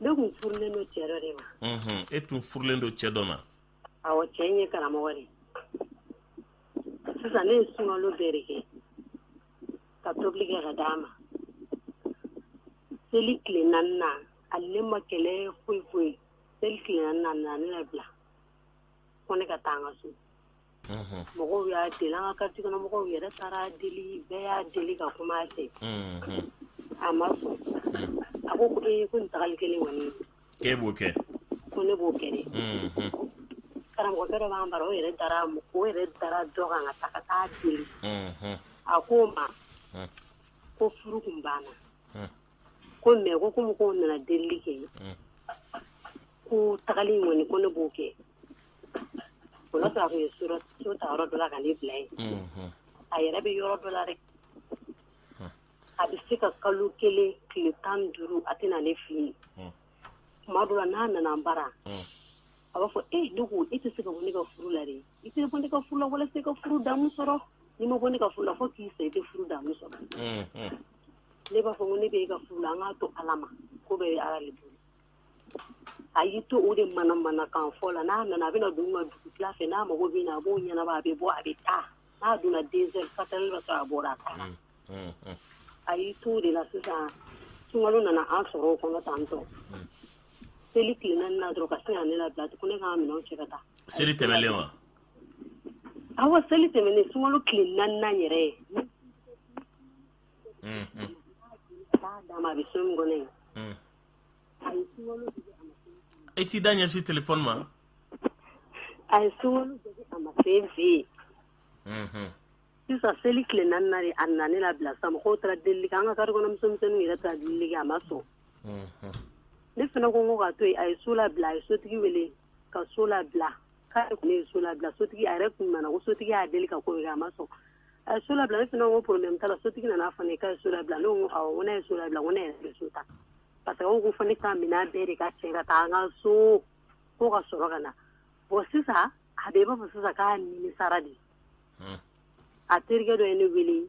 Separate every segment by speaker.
Speaker 1: ne tun furulen don cɛ dɔ de ma. Unhun, e tun furulen don
Speaker 2: cɛ dɔ ma. Awɔ, cɛ in
Speaker 1: ye karamɔgɔ de ye. Sisan ne ye sunkalo bɛɛ de kɛ ka tobili kɛ ka d'a ma. Seli tile naani na, hali ne ma kɛlɛ foyi foyi. Seli tile naani na, a nana ne labila ko ne ka taa n ka so. mɔgɔw y'a deli an ka kartiye kɔnɔ mɔgɔw yɛrɛ taar'a deli bɛɛ y'a deli ka kuma a fɛ a ma sɔn a ko ko e ko tagali kelen kɔni e b'o kɛ
Speaker 2: ko ne b'o
Speaker 1: kɛ karamɔgɔ dɔ b'an bara o yɛrɛ dara o yɛrɛ dara dɔ kan ka taa ka ta'a deli a ko o ma ko furu tun banna ko mais ko ko mɔgɔw nana delili kɛ ko tagali in kɔni ko ne b'o kɛ Fɔlɔ a tun ye so ta yɔrɔ dɔ la ka ne bila yen a yɛrɛ bɛ yɔrɔ dɔ la dɛ a bɛ se ka kalo kelen tile tan duuru a tɛ na ne filɛ tuma dɔ la n'a nana n bara a b'a fɔ e dugu i tɛ se ka bɔ ne ka furu la dɛ i tɛ bɔ ne ka furu la walasa i ka furu damu sɔrɔ n'i ma bɔ ne ka furu la fo k'i sa i tɛ furu damu sɔrɔ ne b'a fɔ ko ne bɛ e ka furu la an k'a to ala ma ko bɛ ala de bolo a y'i to o de manamanakan fɔ la n'a nana a bɛ na dugu ma dugutila fɛ n'a mago bɛ na a b'o ɲɛnabɔ a bɛ bɔ a bɛ taa n'a donna deux heures quatre heures b'a sɔrɔ a bɔra a taara a y'i to o de la sisan sunkalo nana an sɔrɔ o kɔnɔ tan tɔ seli tile naani na dɔrɔn ka sin ka ne labila ko ne ka n minɛn cɛ ka taa seli tɛmɛlen wa awɔ seli tɛmɛnen sunkalo tile naani yɛrɛ dama a bɛ so min kɔnɔ yen e t'i
Speaker 2: da ɲɛsi telefɔni
Speaker 1: ma a ye so luwe a ma se n fɛ yen sisan seli tile naani na dɛ a nana ne labila sa mɔgɔw taar'a deli an ka kartiye kɔnɔ musomisɛnninw yɛrɛ taar'a deli a ma sɔn ne fana ko n ko k'a to yen a ye so labila a ye sotigi wele ka so labila k'ale tun ye so labila sotigi a yɛrɛ tun nana ko sotigi y'a deli ka kɔri a ma sɔn A ye so labila ne fana ko problème t'a la sotigi nan'a fɔ ne ye k'a ye so labila ne ko awɔ n ko n'a ye so labila n ko ne yɛrɛ bɛ so ta parce que u ko fo ne ka minɛn bɛɛ de ka cɛ ka taa an ka so ko ka sɔrɔ ka na bon sisan a bɛ i b'a fɔ sisan k'a nimisara de a terikɛ dɔ ye ne wele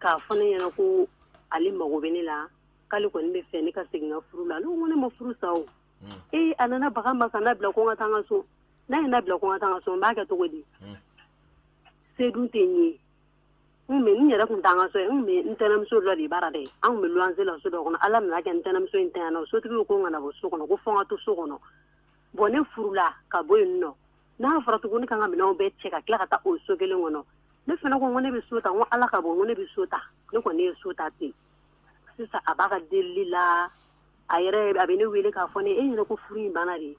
Speaker 1: k'a fɔ ne ɲɛna ko ale mago bɛ ne la k'ale kɔni b'a fɛ ne ka segin n ka furu la ne ko ne ma furu sa o ee a nana baga n ma ka n labila ko n ka taa n ka so n'a ye n labila ko n ka taa n ka so n b'a kɛ cogo di se dun tɛ n ye n bɛ n yɛrɛ tun t'an ka so ye n bɛ n tɛnɛmuso dɔ de bara dɛ an tun bɛ luwanse la so dɔ kɔnɔ ala nan'a kɛ n tɛnɛmuso in ntanyana o sotigi ko n kana bɔ so kɔnɔ ko fɔ n ka to so kɔnɔ bɔn ne furula ka bɔ yen nɔ n'a fɔra tugun ne ka n ka minɛnw bɛɛ cɛ ka tila ka taa o so kelen kɔnɔ ne fana ko n ko ne bɛ so ta n ko ala ka bon n ko ne bɛ so ta ne kɔni ne ye so ta ten sisan a b'a ka delili la a yɛrɛ a bɛ ne wele k'a fɔ ne e yɛrɛ ko furu in banna de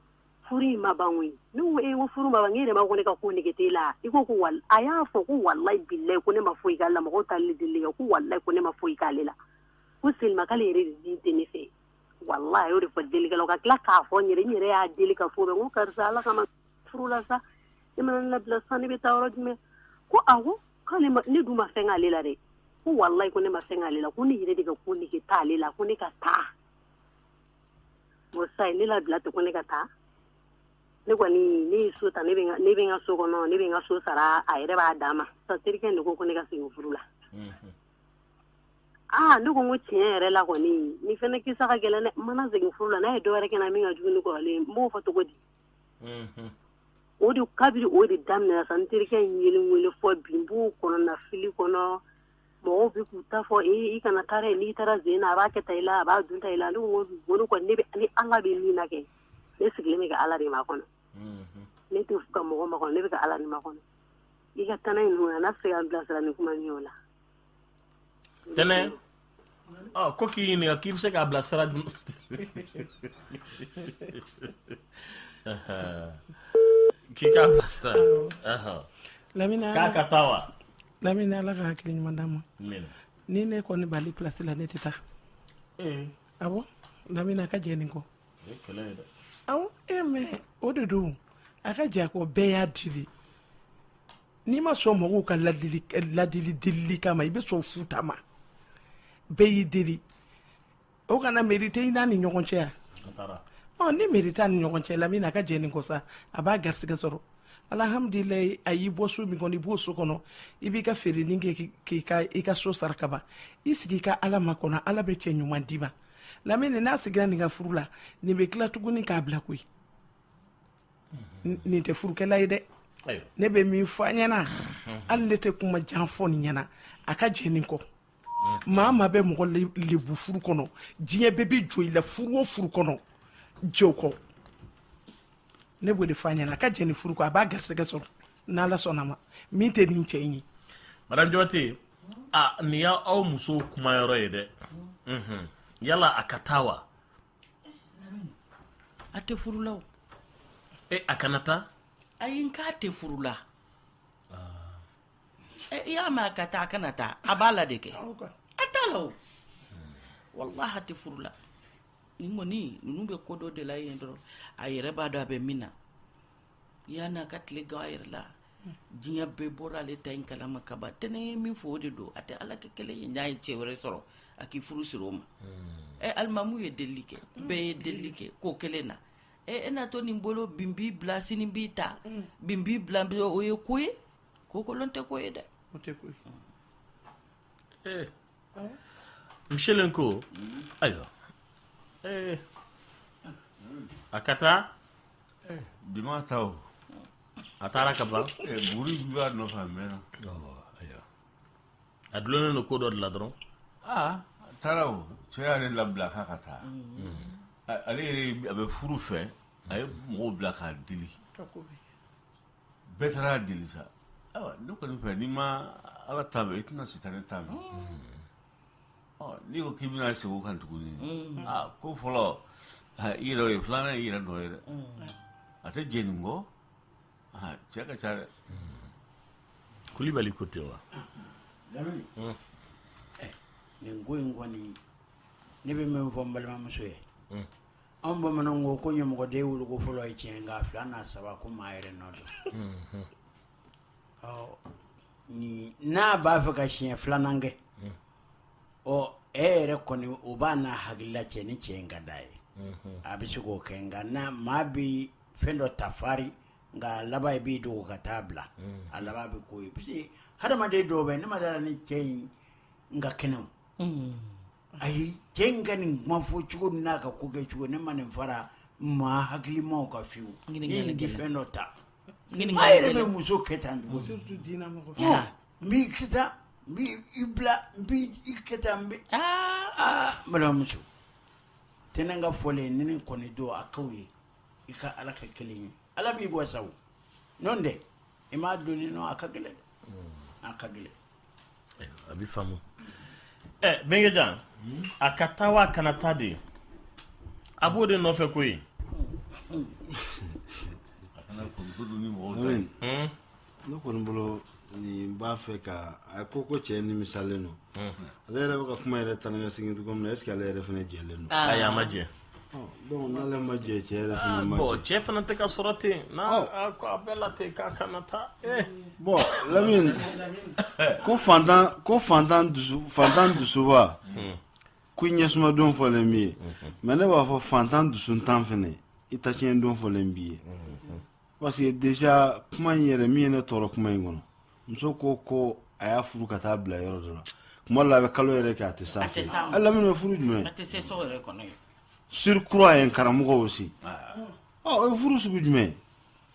Speaker 1: furu in ma ban koyi ne ko ee ko furu ma ban n yɛrɛ b'a ko ne ka ko nege t'e la i ko ko wal a y'a fɔ ko walayi bilayi ko ne ma foyi k'ale la mɔgɔw taalen delili kɛ ko walayi ko ne ma foyi k'ale la ko seulement k'ale yɛrɛ de tɛ ne fɛ walayi a y'o de fɔ delikɛlaw ka tila k'a fɔ n yɛrɛ n yɛrɛ y'a deli k'a fɔ bɛɛ n ko karisa ala kama furu la sa e mana ne labila sa ne bɛ taa yɔrɔ jumɛn ko awɔ k'ale ma ne dun ma fɛn k'ale la dɛ ko walayi ko ne ma fɛn k'ale la ko ne yɛrɛ de ka ko nege t'ale la ko ne ka taa sa ne labila ten ko ne ka taa ne kɔni ne ye so ta ne bɛ n ka so kɔnɔ ne bɛ n ka so sara a yɛrɛ b'a dama sa terikɛ nin ko ko ne ka segin furu la aa ne ko ko tiɲɛ yɛrɛ la kɔni ne fana kisa ka gɛlɛn ne mana segin furu la n'a ye dɔwɛrɛ kɛ n na min ka jugu ni kɔrɔlen ye n b'o fɔ cogo di o de kabiri o de daminɛna sa n terikɛ in ye ne wele fɔ bi n b'o kɔnɔnafili kɔnɔ mɔgɔw bɛ k'u ta fɔ ee i kana taa dɛ n'i taara sen in na a b'a kɛ tan i la a b'a dun tan i la ne ko n ko olu kɔni ne bɛ yan Ala bɛ min na kɛ ne sigilen bɛ ka Ala de makɔnɔ ne t'a fɛ ka mɔgɔ makɔnɔ ne bɛ ka Ala de makɔnɔ i ka tana in dun n'a bɛ se ka n bilasira ni kuma min ye o
Speaker 2: la. Tɛnɛ ɔ ko k'i ɲininka k'i bɛ se k'a bilasira dun. k'i k'a bilasira.
Speaker 3: Lamini an ka. K'a ka taa wa.
Speaker 2: lamini ala
Speaker 3: ka hakili ɲuman d'a ma ni ne kɔni b'ale pilasi la ne tɛ taa eh. awɔ lamini a ka jɛn nin kɔ awɔ e eh, mɛ o de don a ka jɛn a kɔ bɛɛ y'a deli n'i ma sɔn mɔgɔw ka ladili ladili delili kama i bɛ sɔn futa ma bɛɛ y'i deli o kana mɛri tɛ i n'a ni ɲɔgɔn cɛ yan ɔ ni mɛri t'a ni ɲɔgɔn cɛ lamini a ka jɛn nin kɔ sa a b'a garisɛgɛ sɔrɔ alhamdulilayi a y'i bɔ so min kɔnɔ i b'o so kɔnɔ i b'i ka feerenin kɛ k'i ka i ka so sara ka ban i sigi i ka ala makɔnɔ ala bɛ cɛ ɲuman d'i ma lamini n'a seginna nin ka furu la nin bɛ tila tuguni k'a bila koyi nin tɛ furukɛla ye dɛ ne bɛ min fɔ a ɲɛ na hali ne tɛ kuma jan fɔ nin ɲɛ na a ka jɛn nin kɔ maa maa bɛ mɔgɔ lebu furu kɔnɔ diɲɛ bɛɛ bɛ jɔ i la furu o furu kɔnɔ jɛw kɔ ne b'o de fɔ a ɲɛna a ka jɛ nin furu kɔ a b'a garisɛgɛ sɔrɔ n'ala sɔnna maa min tɛ nin cɛ in ye madame jabate
Speaker 2: a nin y'aw musow kuma yɔrɔ ye dɛ mhm. yala a ka taa
Speaker 4: wa a tɛ furu la o e a
Speaker 2: kana taa ayi n k'a
Speaker 4: tɛ furu la Eh, i y'a mɛn a ka taa a kana taa a b'a la de kɛ a t'a la o walahi a tɛ furu la nin kɔni ninnu bɛ ko dɔ de la yen dɔrɔn a yɛrɛ b'a dɔn a bɛ min na yanni a ka tile gan a yɛrɛ la diɲɛ bɛɛ bɔra ale ta in kalama ka ban tɛnɛ ye min fɔ o de don a tɛ ala kɛ kelen ye n'a ye cɛ wɛrɛ sɔrɔ a k'i furu siri o ma ɛ alimamu ye delili kɛ bɛɛ ye delili kɛ ko kelen na ɛ e na to nin bolo bi n b'i bila sini n b'i ta bi n b'i bila bi o ye ko ye ko kolon tɛ ko ye dɛ o tɛ ko
Speaker 3: ye
Speaker 2: ee michel n ko ayiwa ee a ka taa bi
Speaker 5: ma taa o a
Speaker 2: taara ka ban buru b'a
Speaker 5: nɔfɛ a mɛnna
Speaker 2: ayiwa a dulonnen don ko dɔ de la dɔrɔn aa
Speaker 5: a taara o cɛ y'ale labila k'a ka taa ale yɛrɛ a bɛ furu fɛ a ye mɔgɔw bila k'a deli bɛɛ taara deli sa ayiwa ne kɔni fɛ n'i ma ala ta mɛn i tɛna sitanɛ ta mɛn ɔ n'i ko k'i bɛna segin o kan tuguni aa ko fɔlɔ ah, i yɛrɛ o ye filanan ye i yɛrɛ nɔ ye dɛ a tɛ jɛ nin kɔ ah, cɛ ka ca dɛ
Speaker 2: kulibali ko ten wa lamini
Speaker 6: nin ko in kɔni ne bɛ min fɔ n balimamuso ye Anw bamananw ko ko ɲamɔgɔden woloko fɔlɔ ye tiɲɛ nka fila n'a saba ko maa yɛrɛ nɔ don n'a b'a fɛ ka siɲɛ filanan kɛ ɔ e yɛrɛ kɔni o b'a n'a hakilila cɛ ni cɛ in ka d'a ye a bɛ se k'o kɛ nka n maa bɛ fɛn dɔ ta fari nka laban i b'i dogo ka taa bila a laban bɛ k'o ye parce que hadamaden dɔw bɛ ne ma d'a ra ni cɛ in ka kɛnɛ o ayi cɛ in ka nin kuma fɔ cogo n'a ka ko kɛ cogo ne ma nin fara maa hakilimaw kan fiyewu ni nin tɛ fɛn dɔ ta maa yɛrɛ bɛ muso kɛ tan de surtout diinɛ mɔgɔ
Speaker 3: n b'i kɛ
Speaker 6: tan n b'i i bila n b'i i kɛ tan n bɛ aa balimamuso tɛnɛ ka fɔlen nin in kɔni don a k'aw ye i ka ala kɛ kelen ye ala b'i wasa o n'o tɛ i m'a dɔn ni a ka gɛlɛn a ka gɛlɛn a
Speaker 2: bɛ faamu ɛ bɛnkɛjan a ka taa wa a kana taa de a b'o de nɔfɛ koyi
Speaker 7: ne kɔni bolo nin b'a fɛ ka a ko ko cɛ nimisalen don ale yɛrɛ bɛ ka kuma yɛrɛ tan ka segin cogo min na est ce que ale yɛrɛ fana jɛlen don ayi a ma jɛ
Speaker 2: donc
Speaker 7: n'ale ma jɛ cɛ yɛrɛ fana ah, ma jɛ cɛ fana tɛ ka
Speaker 2: sɔrɔ ten n'a a ko a bɛɛ la ten k'a kana taa eh. bon
Speaker 7: lamini ko fantan ko fantan dusu fantan dusuba hmm. ko ɲɛsuma don fɔlen b'i ye hmm. mais ne b'a fɔ fantan dusuntan fɛnɛ i ta tiɲɛ don fɔlen b'i ye hmm. parce que déjà kuma in yɛrɛ min ye ne tɔɔrɔ kuma in kɔnɔ muso ko ko a y'a furu ka taa bila yɔrɔ dɔ la kuma la a bɛ kalo yɛrɛ kɛ a tɛ s'a fɛ a lamini bɛ furu
Speaker 4: jumɛn surcroît ye
Speaker 7: karamɔgɔ aussi o ye furu sugu jumɛn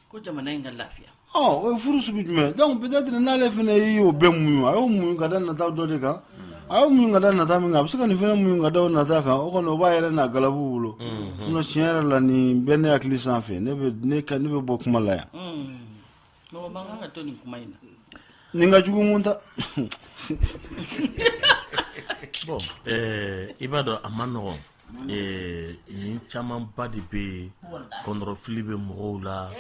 Speaker 7: ko jamana
Speaker 4: in ka lafiya o ye furu sugu
Speaker 7: jumɛn donc peut-être n'ale fana y'i y'o bɛɛ muɲu a y'o muɲu ka da nata dɔ de kan a y'o muɲu ka da nata min kan a bɛ se ka nin fana muɲu ka da o nata kan o kɔni o b'a yɛrɛ n'a galabu bolo sinon tiɲɛ yɛrɛ la nin bɛ ne hakili sanfɛ ne bɛ ne ka ne bɛ bɔ kuma la yan
Speaker 4: Mɔgɔ man kan ka to nin kuma in na. Ni ka juguman
Speaker 2: ta. Bon ɛɛ i b'a dɔn a man nɔgɔn. Ee nin camanba de bɛ yen kɔndɔrɔfili bɛ mɔgɔw la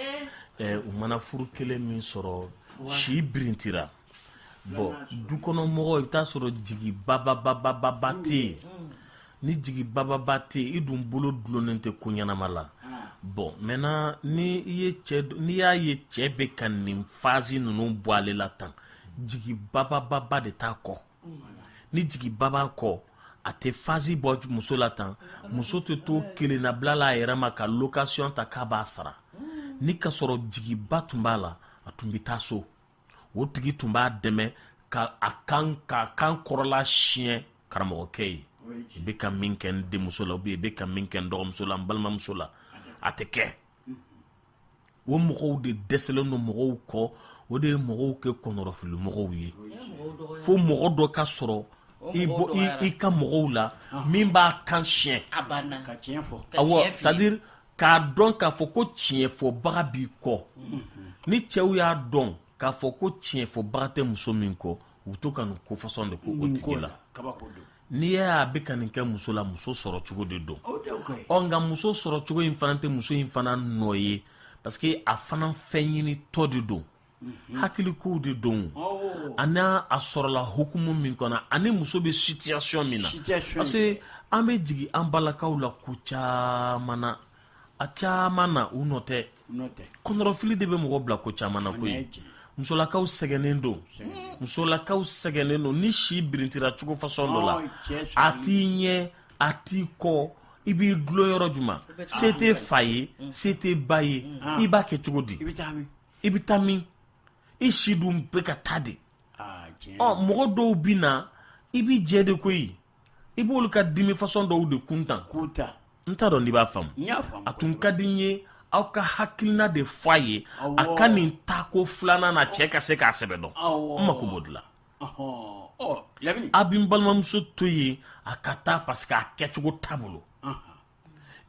Speaker 2: u mana furu kelen min sɔrɔ si birintira bon du kɔnɔ mɔgɔw i bɛ t'a sɔrɔ jigi bababababa tɛ yen ni jigi bababa tɛ yen i dun bolo dulonnen tɛ ko ɲɛnama la bon maintenant ni i ye cɛ n'i y'a ye cɛ bɛ ka nin phase ninnu bɔ ale la tan jigi babababa de t'a kɔ ni jigiba b'a kɔ a tɛ phase bɔ muso la tan muso tɛ to kelennabila la a yɛrɛ ma ka location ta k'a b'a sara ni ka sɔrɔ jigiba tun b'a la a tun bɛ taa so o tigi tun b'a dɛmɛ ka a kan ka kan kɔrɔla siɲɛ karamɔgɔkɛ ye i bɛ ka min kɛ n denmuso la ou bien i bɛ ka min kɛ n dɔgɔmuso la n balimamuso la a tɛ kɛ o mɔgɔw de dɛsɛlen don mɔgɔw kɔ o de ye mɔgɔw kɛ kɔnɔrɔfili mɔgɔw ye fo mɔgɔ dɔ ka sɔrɔ i ka mɔgɔw la min b'a kan siɲɛ a banna ka tiɲɛ fɔ
Speaker 6: awɔ c'est à dire
Speaker 2: k'a dɔn k'a fɔ ko tiɲɛfɔbaga b'i kɔ ni cɛw y'a dɔn k'a fɔ ko tiɲɛfɔbaga tɛ muso min kɔ u to ka nin ko façon de k'o tigi la n'i y'a bɛ ka nin kɛ muso la muso sɔrɔ cogo de don ɔ nka muso sɔrɔ cogo in fana tɛ muso in fana nɔ ye parce que a fana fɛn ɲinitɔ de don hakili kow de don ani a sɔrɔla hukumu min kɔnɔ ani muso bɛ situation min na parce que an bɛ jigin an balakaw la ko caman na a caman na u nɔ tɛ kɔnɔrɔfili de bɛ mɔgɔ bila ko caman na koyi musolakaw sɛgɛnnen don musolakaw sɛgɛnnen don ni si birintira cogo fasɔn dɔ la a t'i ɲɛ a t'i kɔ i b'i dulon yɔrɔ juma se tɛ fa ye se tɛ ba ye i b'a kɛ cogo di i bɛ taa min i si dun bɛ ka taa de mɔgɔ dɔw bɛ na i b'i jɛ de koyi i b'olu ka dimi fasɔn dɔw de kuntan n t'a dɔn n'i b'a faamu a tun ka di n ye aw ka hakilina de fɔ a ye a ka nin tako filanan na cɛ ka se k'a sɛbɛ dɔn n mako b'o de la a bɛ n balimamuso to yen a ka taa parce que a kɛcogo t'a bolo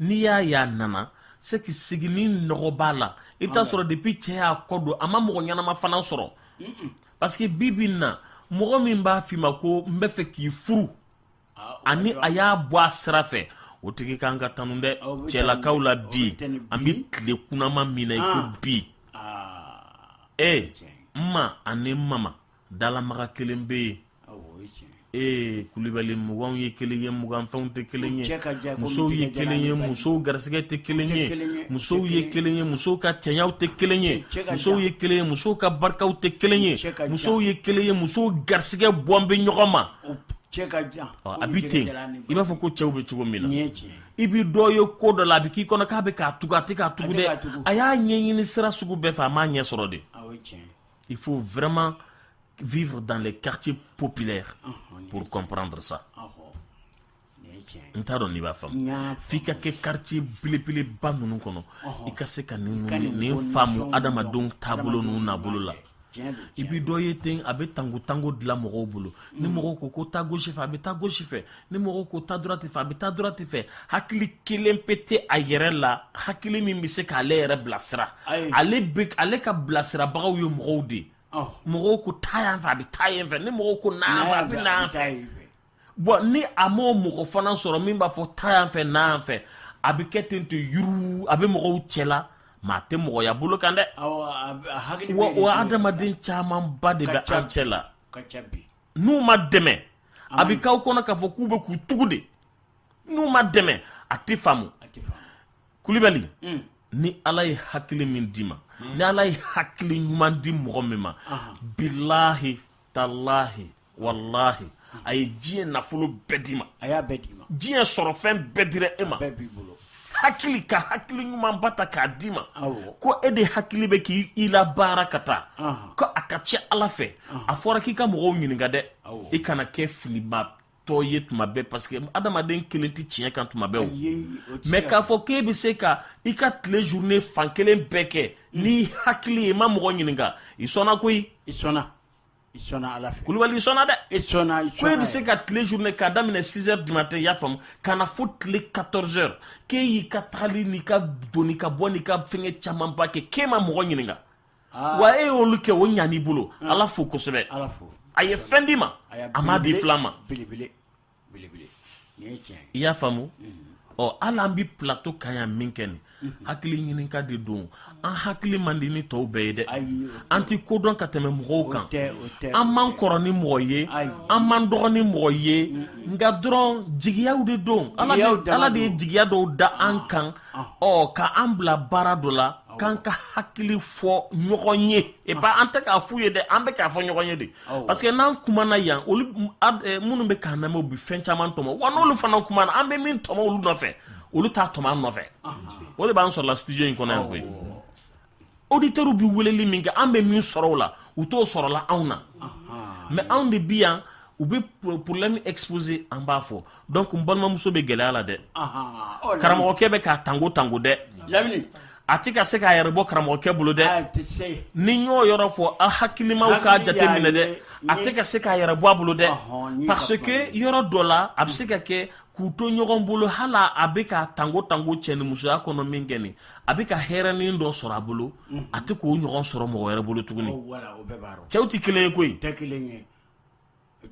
Speaker 2: n'i y'a ye a nana c'est que sigini nɔgɔ b'a la i bɛ t'a sɔrɔ depuis cɛ y'a kɔ don a ma mɔgɔ ɲɛnama fana sɔrɔ parce que bi bi in na mɔgɔ min b'a f'i ma ko n bɛ fɛ k'i furu ah, ani a y'a bɔ a sira fɛ o tigi kan ka tanu dɛ ah, cɛlakaw la bi an bɛ tile kunnama min na i ko ah. bi ee n ma ani n mama dalamaga kelen bɛ yen ee kulubali mugan ye kelen ye muganfɛnw tɛ kelen ye musow ye kelen ye musow garisɛgɛ tɛ kelen ye musow ye kelen ye musow ka cɛɲaw tɛ kelen ye musow ye kelen ye musow ka barikaw tɛ kelen ye musow ye kelen ye musow garisɛgɛ bɔn bɛ ɲɔgɔn ma a bɛ ten i b'a fɔ ko cɛw bɛ cogo min na i bɛ dɔ ye ko dɔ la a bɛ k'i kɔnɔ k'a bɛ k'a tugu a tɛ k'a tugu dɛ a y'a ɲɛɲini sira sugu bɛɛ fɛ a m'a ɲɛ sɔrɔ de Il faut vraiment vivre dans les quartiers populaires ah, pour comprendre ça. Ah, oh. n t'a dɔn n'i b'a faamu f'i ka kɛ quartier belebeleba ninnu kɔnɔ i ka se ka nin faamu adamadenw taabolo n'u nabolo la i bi dɔ ye ten a bɛ tango tango de la mɔgɔw bolo ni mɔgɔw ko ko taa gauche fɛ a bɛ taa gauche fɛ ni mɔgɔ ko taa droite fɛ a bɛ taa droite fɛ hakili kelen pe tɛ a yɛrɛ la hakili min bɛ se k'ale yɛrɛ bilasira ale ka bilasirabagaw ye mɔgɔw de ye mɔgɔw ko taa yan fɛ a bɛ taa yan fɛ ni mɔgɔw ko na yan fɛ a bɛ na yan fɛ bɔn ni a m'o mɔgɔ fana sɔrɔ min b'a fɔ taa yan fɛ na yan fɛ a bɛ kɛ ten to yuru a bɛ mɔgɔw cɛla mais a tɛ mɔgɔya bolo kan dɛ wa adamaden camanba de bɛ an cɛ la n'u ma dɛmɛ a bɛ k'aw kɔnɔ k'a fɔ k'u bɛ k'u tugu de n'u ma dɛmɛ a tɛ faamu kulibali mm. ni ala ye hakili min d'i ma mm. ni ala ye hakili ɲuman di mɔgɔ min ma bilahi talahi walahi a ye diɲɛ nafolo bɛɛ d'i ma diɲɛ sɔrɔfɛn bɛɛ dira e ma bɛɛ b'i bolo hakili ka hakili ɲumanba ta k'a d'i ma ko e de hakili bɛ k'i la baara ka taa ko a ka ca ala fɛ a fɔra k'i ka mɔgɔw ɲininka dɛ i kana kɛ filimatɔ ye tuma bɛɛ parce que adamaden kelen tɛ tiɲɛ kan tuma bɛɛ o mais k'a fɔ k'e bɛ se ka i ka tile journée fan kelen bɛɛ kɛ n'i hakili ye i ma mɔgɔ ɲininka i sɔnna koyi i sɔnna I sɔnna Ala fɛ, kulubali i sɔnna dɛ, i sɔnna i sɔnna, ko e bɛ se ka tile journée k'a daminɛ 6 heures du matin i y'a faamu ka na fo tile 14 heures k'e y'i ka tagali n'i ka donni ka bɔ n'i ka fɛngɛ camanba kɛ k'e ma mɔgɔ ɲininka ah. wa e y'olu kɛ o ɲan'i bolo ah. Ala fo kosɛbɛ a ye fɛn d'i ma a m'a d'i filan ma belebele i y'a faamu ɔ hali an bɛ plateau kan yan min kɛ nin hakili ɲininka de don an hakili man di ni tɔw bɛɛ ye dɛ an tɛ ko dɔn ka tɛmɛ mɔgɔw kan an man kɔrɔ ni mɔgɔ ye an man dɔgɔ ni mɔgɔ ye nka dɔrɔn jigiyaw de don ala de ye jigiya dɔw da an kan ɔ ka an bila baara dɔ la k'an ka hakili fɔ ɲɔgɔn ye et pas an tɛ k'a f'u ye dɛ an bɛ k'a fɔ ɲɔgɔn ye de parce que n'an kumana yan olu eh, minnu bɛ k'an lamɛn u bɛ fɛn caman tɔmɔ wa n'olu fana kumana an bɛ min tɔmɔ olu nɔfɛ olu t'a tɔmɔ an nɔfɛ o de b'an sɔrɔla studio in kɔnɔ yan koyi auditeurs bɛ weleli min kɛ an bɛ min sɔrɔ o la u t'o sɔrɔla anw na mais anw de bi yan u bɛ problème exposer an b'a fɔ donc n balimamuso bɛ gɛlɛya la dɛ karamɔgɔkɛ bɛ k'a tango tango dɛ a tɛ ka se k'a yɛrɛ bɔ karamɔgɔkɛ bolo dɛ ni n y'o yɔrɔ fɔ a hakilimaw k'a jate minɛ dɛ a tɛ ka se k'a yɛrɛ bɔ a bolo dɛ parce que yɔrɔ dɔ la a bɛ se ka kɛ k'u to ɲɔgɔn bolo hali a bɛ k'a tango tango cɛ ni musoya kɔnɔ min kɛ nin a bɛ ka hɛrɛnin dɔ sɔrɔ a bolo a tɛ k'o ɲɔgɔn sɔrɔ mɔgɔ wɛrɛ bolo tuguni cɛw tɛ kelen ye koyi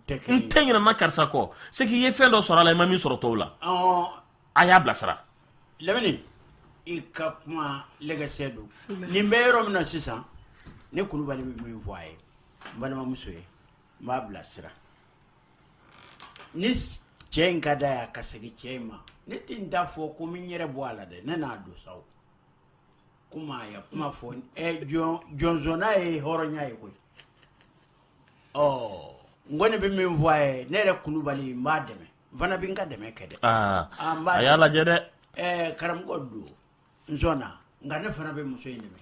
Speaker 2: n tɛ ɲina maa karisa kɔ c'est que i ye fɛn dɔ sɔrɔ a la i ma min sɔrɔ tɔw la a y'a bilasira
Speaker 6: lamini i ka kuma lɛgɛsɛ don nin bɛ yɔrɔ min na sisan ne kulubali bɛ min fɔ a ye n balimamuso ye n b'a bilasira ni cɛ in ka d'a y'a ka segin cɛ in ma ne tɛ n ta fɔ ko min yɛrɛ bɔ a la dɛ ne n'a don sa o kuma a ye kuma fɔ ɛ jɔn jɔnsɔnna ye hɔrɔnya ye koyi ɔ n kɔni bɛ min fɔ a ye ne yɛrɛ kulubali n b'a dɛmɛ n fana bɛ n ka dɛmɛ kɛ dɛ aa Ah, n b'a a y'a
Speaker 2: dɛmɛ. lajɛ dɛ ɛɛ karamɔgɔ
Speaker 6: don n sɔnna nka ne fana bɛ muso in dɛmɛ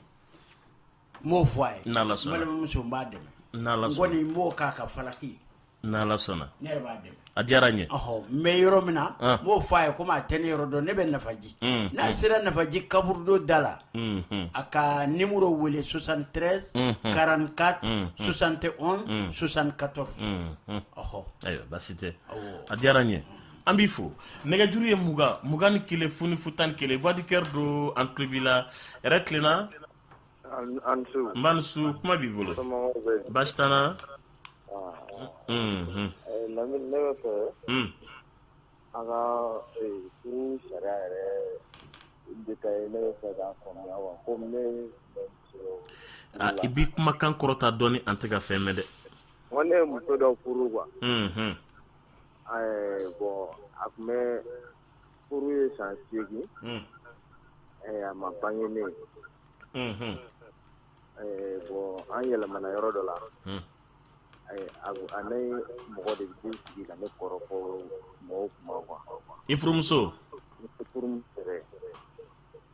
Speaker 6: n b'o fɔ a ye N'Ala sɔnna. n balimamuso n b'a dɛmɛ N'Ala n sɔnna. kɔni n b'o k'a ka falaki ye n'ala sɔnna
Speaker 2: ne yɛrɛ b'a dɛmɛ
Speaker 6: A diyara n ye
Speaker 2: n bɛ yɔrɔ min
Speaker 6: na n b'o fɔ a ye komi a tɛ ne yɔrɔ dɔn ne bɛ nafaji n'a sera nafaji kaburudo da la a ka numéro wele soixante-treize quarante-quatre soixante et onze soixante-quatorze
Speaker 2: ɔɔ ayiwa baasi tɛ a diyara n ye an b'i fo nɛgɛjuru ye mugan mugan ni kelen fu ni fu tan ni kelen Voix du cœur don an tulo b'i la hɛrɛ tilenna Nba i ni su kuma b'i bolo baasi t'an na
Speaker 8: an ka furu sariya yɛrɛ ne bɛ fɛ k'a faamuya quoi komi
Speaker 2: ne i b'i kumakan kɔrɔta dɔɔni an tɛ ka fɛn mɛn dɛ n ko ne ye muso
Speaker 8: dɔ furu quoi ɛɛ bon a tun bɛ Furu ye san 8 ye unhun ɛɛ a ma bange ne ye unhun ɛɛ bon an yɛlɛmana yɔrɔ dɔ la unhun ɛɛ a ni mɔgɔ de bɛ t'i sigi ka ne kɔrɔfɔ mɔgɔw kuma quoi i
Speaker 2: furumuso ne
Speaker 8: furumuso yɛrɛ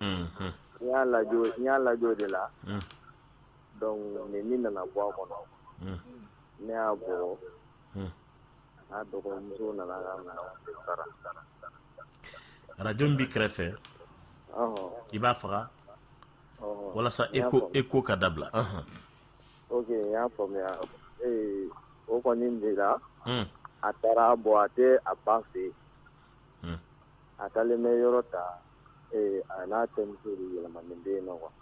Speaker 8: unhun n y'a lajɛ o n y'a lajɛ o de la unh donc ne ni nana bɔ a kɔnɔ unh ne y'a bugɔ unh
Speaker 2: Arajo min b'i kɛrɛfɛ i b'a faga walasa écho ka dabila
Speaker 8: o kɔni de la a taara bɔ a tɛ a ba fɛ yen a taalen bɛ yɔrɔ ta a n'a terimuso yɛlɛmanen bɛ yen quoi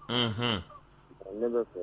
Speaker 8: ne bɛ fɛ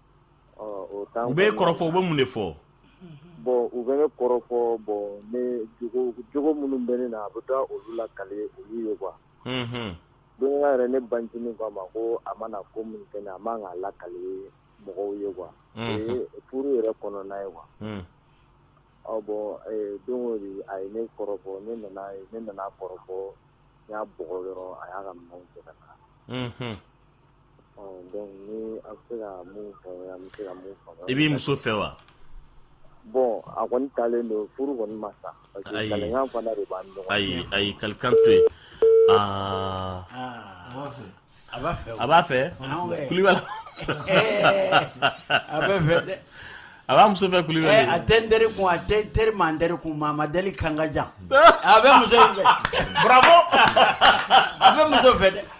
Speaker 8: U bɛ kɔrɔfɔ u
Speaker 2: bɛ mun
Speaker 8: de
Speaker 2: fɔ
Speaker 8: bon u bɛ ne kɔrɔfɔ bon ne jogo minnu bɛ ne na a bɛ taa olu lakali olu ye quoi don dɔ la yɛrɛ ne bancinin k'a ma ko a mana ko min kɛ a man k'a lakali mɔgɔw ye quoi furu yɛrɛ kɔnɔna ye quoi bon don dɔ a ye ne kɔrɔfɔ ne nana kɔrɔfɔ n y'a bugɔ dɔrɔn a y'a ka minɛnw cɛ ka taa I b'i muso fɛ
Speaker 2: wa
Speaker 8: bon a kɔni taalen don furu kɔni ma sa ayi ayi ayi kalikan to yen
Speaker 2: aa a b'a fɛ Kulubali
Speaker 6: a bɛ fɛ dɛ a b'a muso
Speaker 2: fɛ Kulubali a tɛ n teri kun a
Speaker 6: tɛ teri ma n teri kun ma ma deli kan ka jan a bɛ muso fɛ a bɛ muso fɛ
Speaker 2: dɛ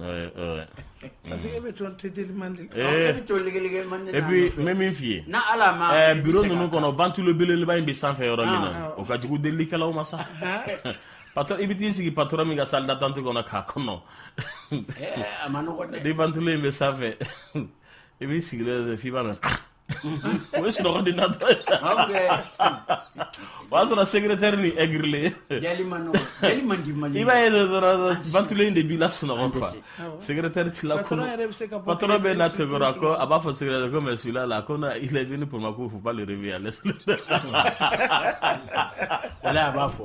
Speaker 2: Ouais, ouais. Parce que e bɛ
Speaker 3: to teliman de la. Ee, E bɛ to ligɛligɛ
Speaker 6: man de la. Et puis n bɛ min f'i
Speaker 2: ye. N'a Ala ma. Ɛɛ biro
Speaker 6: ninnu kɔnɔ
Speaker 2: ventilo belebeleba in bɛ sanfɛ yɔrɔ min na o ka jugu delilikɛlaw ma sa. Patɔrɔn i bɛ t'i sigi patɔrɔn min ka salle d'attente kɔnɔ k'a kɔnɔ. Ɛɛ
Speaker 6: a ma nɔgɔn dɛ. Ni ventilo in bɛ sanfɛ
Speaker 2: i b'i sigilen ye f'i b'a mɛn. o ye sunɔgɔ di natɔ ye o y'a sɔrɔ secrétaire nin
Speaker 6: aigrilen i b'a ye dɔrɔn
Speaker 2: ventilo in de b'i lasunɔgɔ quoi secrétaire t'i lakunun patron
Speaker 3: bɛ na tɛgɛrɛ
Speaker 2: a ko a b'a fɔ secrétaire ko mais celui-là là ko non il est venu pour moi ko faut pas le réveiller
Speaker 6: laisse-le a b'a fɔ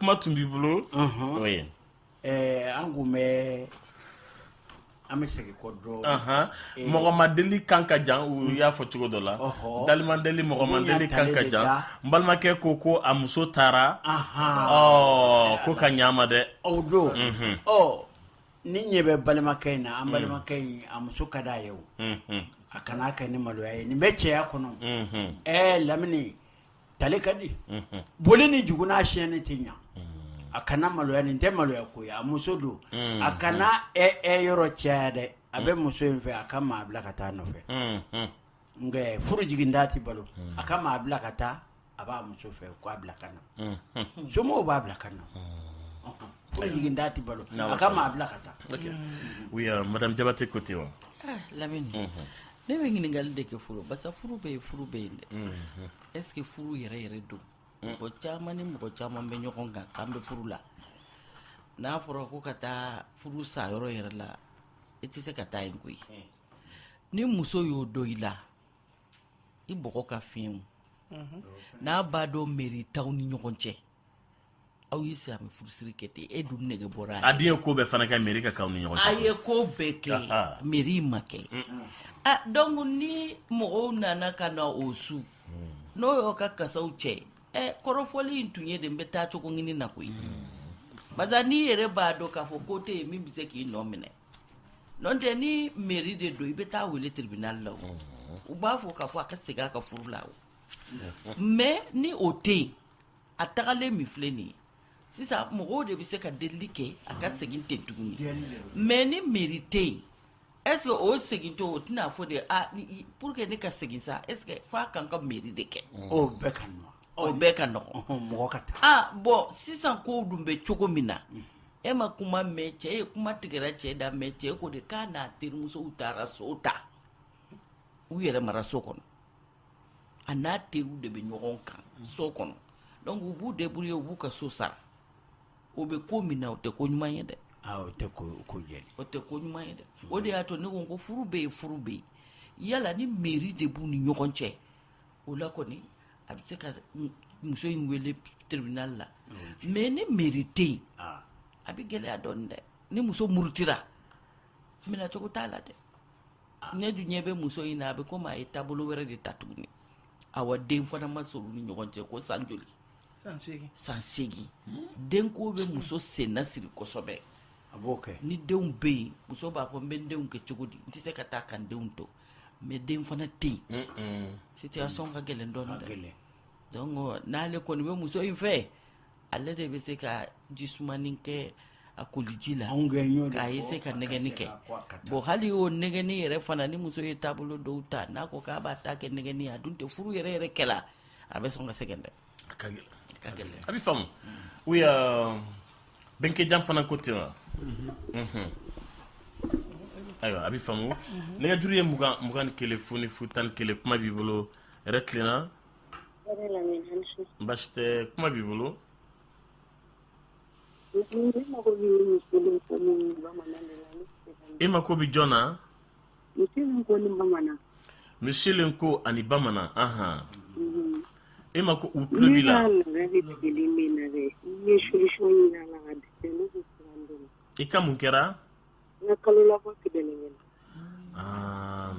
Speaker 2: kuma tun b'i bolo
Speaker 6: an k'o mɛn an bɛ segin kɔ dɔɔnin eh, mɔgɔ ma
Speaker 2: deli kan ka jan u y'a fɔ cogo dɔ la dalima deli mɔgɔ ma deli kan ka jan n balimakɛ ko ko a muso taara ko ka ɲaama dɛ o don mhm.
Speaker 6: ni ɲɛ bɛ balimakɛ in na an mm. balimakɛ in a muso ka d'a ye o mhm. a kana kɛ ni maloya ye nin bɛ cɛya kɔnɔ mhm. ɛɛ lamini Talen ka di boli ni jugu na siyɛn tɛ ɲɛ a kana maloya nin tɛ maloya ko ye a muso don a kana yɔrɔ caya dɛ a bɛ muso in fɛ a ka maa bila ka taa nɔfɛ nka furu jigin da tɛ balo a ka maa bila ka taa a b'a muso fɛ ko a bila ka na somɔgɔw b'a bila ka na jigin da tɛ balo a ka maa bila
Speaker 2: ka taa oui madame Jabate ko ten wa
Speaker 4: lamini ne bɛ ɲininkakali de kɛ furu basa furu bɛ ye furu bɛ yen dɛ est-ce que furu yɛrɛ yɛrɛ don mɔgɔ caman ni mɔgɔ caman bɛ ɲɔgɔn kan k'an bɛ furu la n'a fɔra ko ka taa furu sa yɔrɔ yɛrɛ la i tɛ se ka taa yen koyi ni muso y'o dɔn i la i bɔgɔ ka fiɲɛ n'a b'a dɔn meri t'aw ni ɲɔgɔn cɛ aw y'i sigi a bɛ furusiri kɛ ten e dun nege bɔra a den ye ko bɛɛ fana
Speaker 2: kɛ meri ka k'aw ni ɲɔgɔn cɛ a ye ko
Speaker 4: bɛɛ kɛ meri ma kɛ a donc ni mɔgɔw nana ka na o su n'o y'o ka kasaw cɛ ɛ kɔrɔfɔli in tun ye de n bɛ taa cogo ɲini na koyi parce que n'i yɛrɛ b'a dɔn k'a fɔ ko tɛ yen min bɛ se k'i nɔ minɛ n'o tɛ ni meri de don i bɛ taa wele tribunal la o u b'a fɔ k'a fɔ a ka segin a ka furu la o mais ni o tɛ yen a tagalen min filɛ nin ye sisan mɔgɔw de bɛ se ka delili kɛ a ka segin ten tuguni mais ni meri tɛ yen est-ce que o segin to o tɛna fɔ de a pour que ne ka segin sa est-ce que f'a kan ka meri de kɛ o bɛɛ ka
Speaker 6: nɔgɔn o bɛɛ ka
Speaker 4: nɔgɔn mɔgɔ ka taa
Speaker 6: a bɔn
Speaker 4: sisan kow dun bɛ cogo min na e ma kuma mɛn cɛ ye kuma tigɛra cɛ da mais cɛ ko de k'a n'a terimusow taara so ta u yɛrɛ mara so kɔnɔ a n'a teriw de bɛ ɲɔgɔn kan so kɔnɔ donc u b'u débrouiller u b'u ka so sara o bɛ ko min na o tɛ ko ɲuman ye dɛ ah, o tɛ ko
Speaker 6: ko jɛ o tɛ ko ɲuman ye dɛ
Speaker 4: o de y'a to ne ko ko furu bɛ yen furu bɛ yen yala ni mairie de b'u ni ɲɔgɔn cɛ o la kɔni a bɛ se ka muso in wele tribunal la mais ni mairie tɛ yen ah. a bɛ gɛlɛya dɔɔnin dɛ ni muso murutira minɛcogo t'a la dɛ ne dun ɲɛ bɛ muso in na a bɛ komi a ye taabolo wɛrɛ de ta tuguni awa den fana ma sɔrɔ u ni ɲɔgɔn cɛ ko san joli san segin den ko bɛ muso senna siri kosɛbɛ a b'o kɛ ni denw bɛ yen muso b'a fɔ n bɛ n denw kɛ cogo di n tɛ se ka taa ka n denw to mais den fana tɛ yen situation ka gɛlɛn dɔɔnin dɛ donc n'ale kɔni bɛ muso in fɛ ale de bɛ se ka ji sumanin kɛ a koliji la k'a ye se ka nɛgɛni kɛ bon hali o nɛgɛni yɛrɛ fana ni muso ye taabolo dɔw ta n'a ko k'a b'a ta kɛ nɛgɛni a dun tɛ furu yɛrɛ yɛrɛ kɛ la a bɛ sɔn ka sɛgɛn dɛ
Speaker 2: a ka gɛlɛn a bɛ faamu oui Bɛnkɛjan fana ko ten wa ayiwa a bɛ faamu nɛgɛjuru ye mugan mugan ni kelen fu ni fu tan ni kelen kuma b'i bolo yɛrɛ tilenna baasi tɛ kuma b'i bolo i mako bɛ jɔn na monsieur Lenko ani bamanan aɔn e mako u tulo b'i la i ka mun kɛra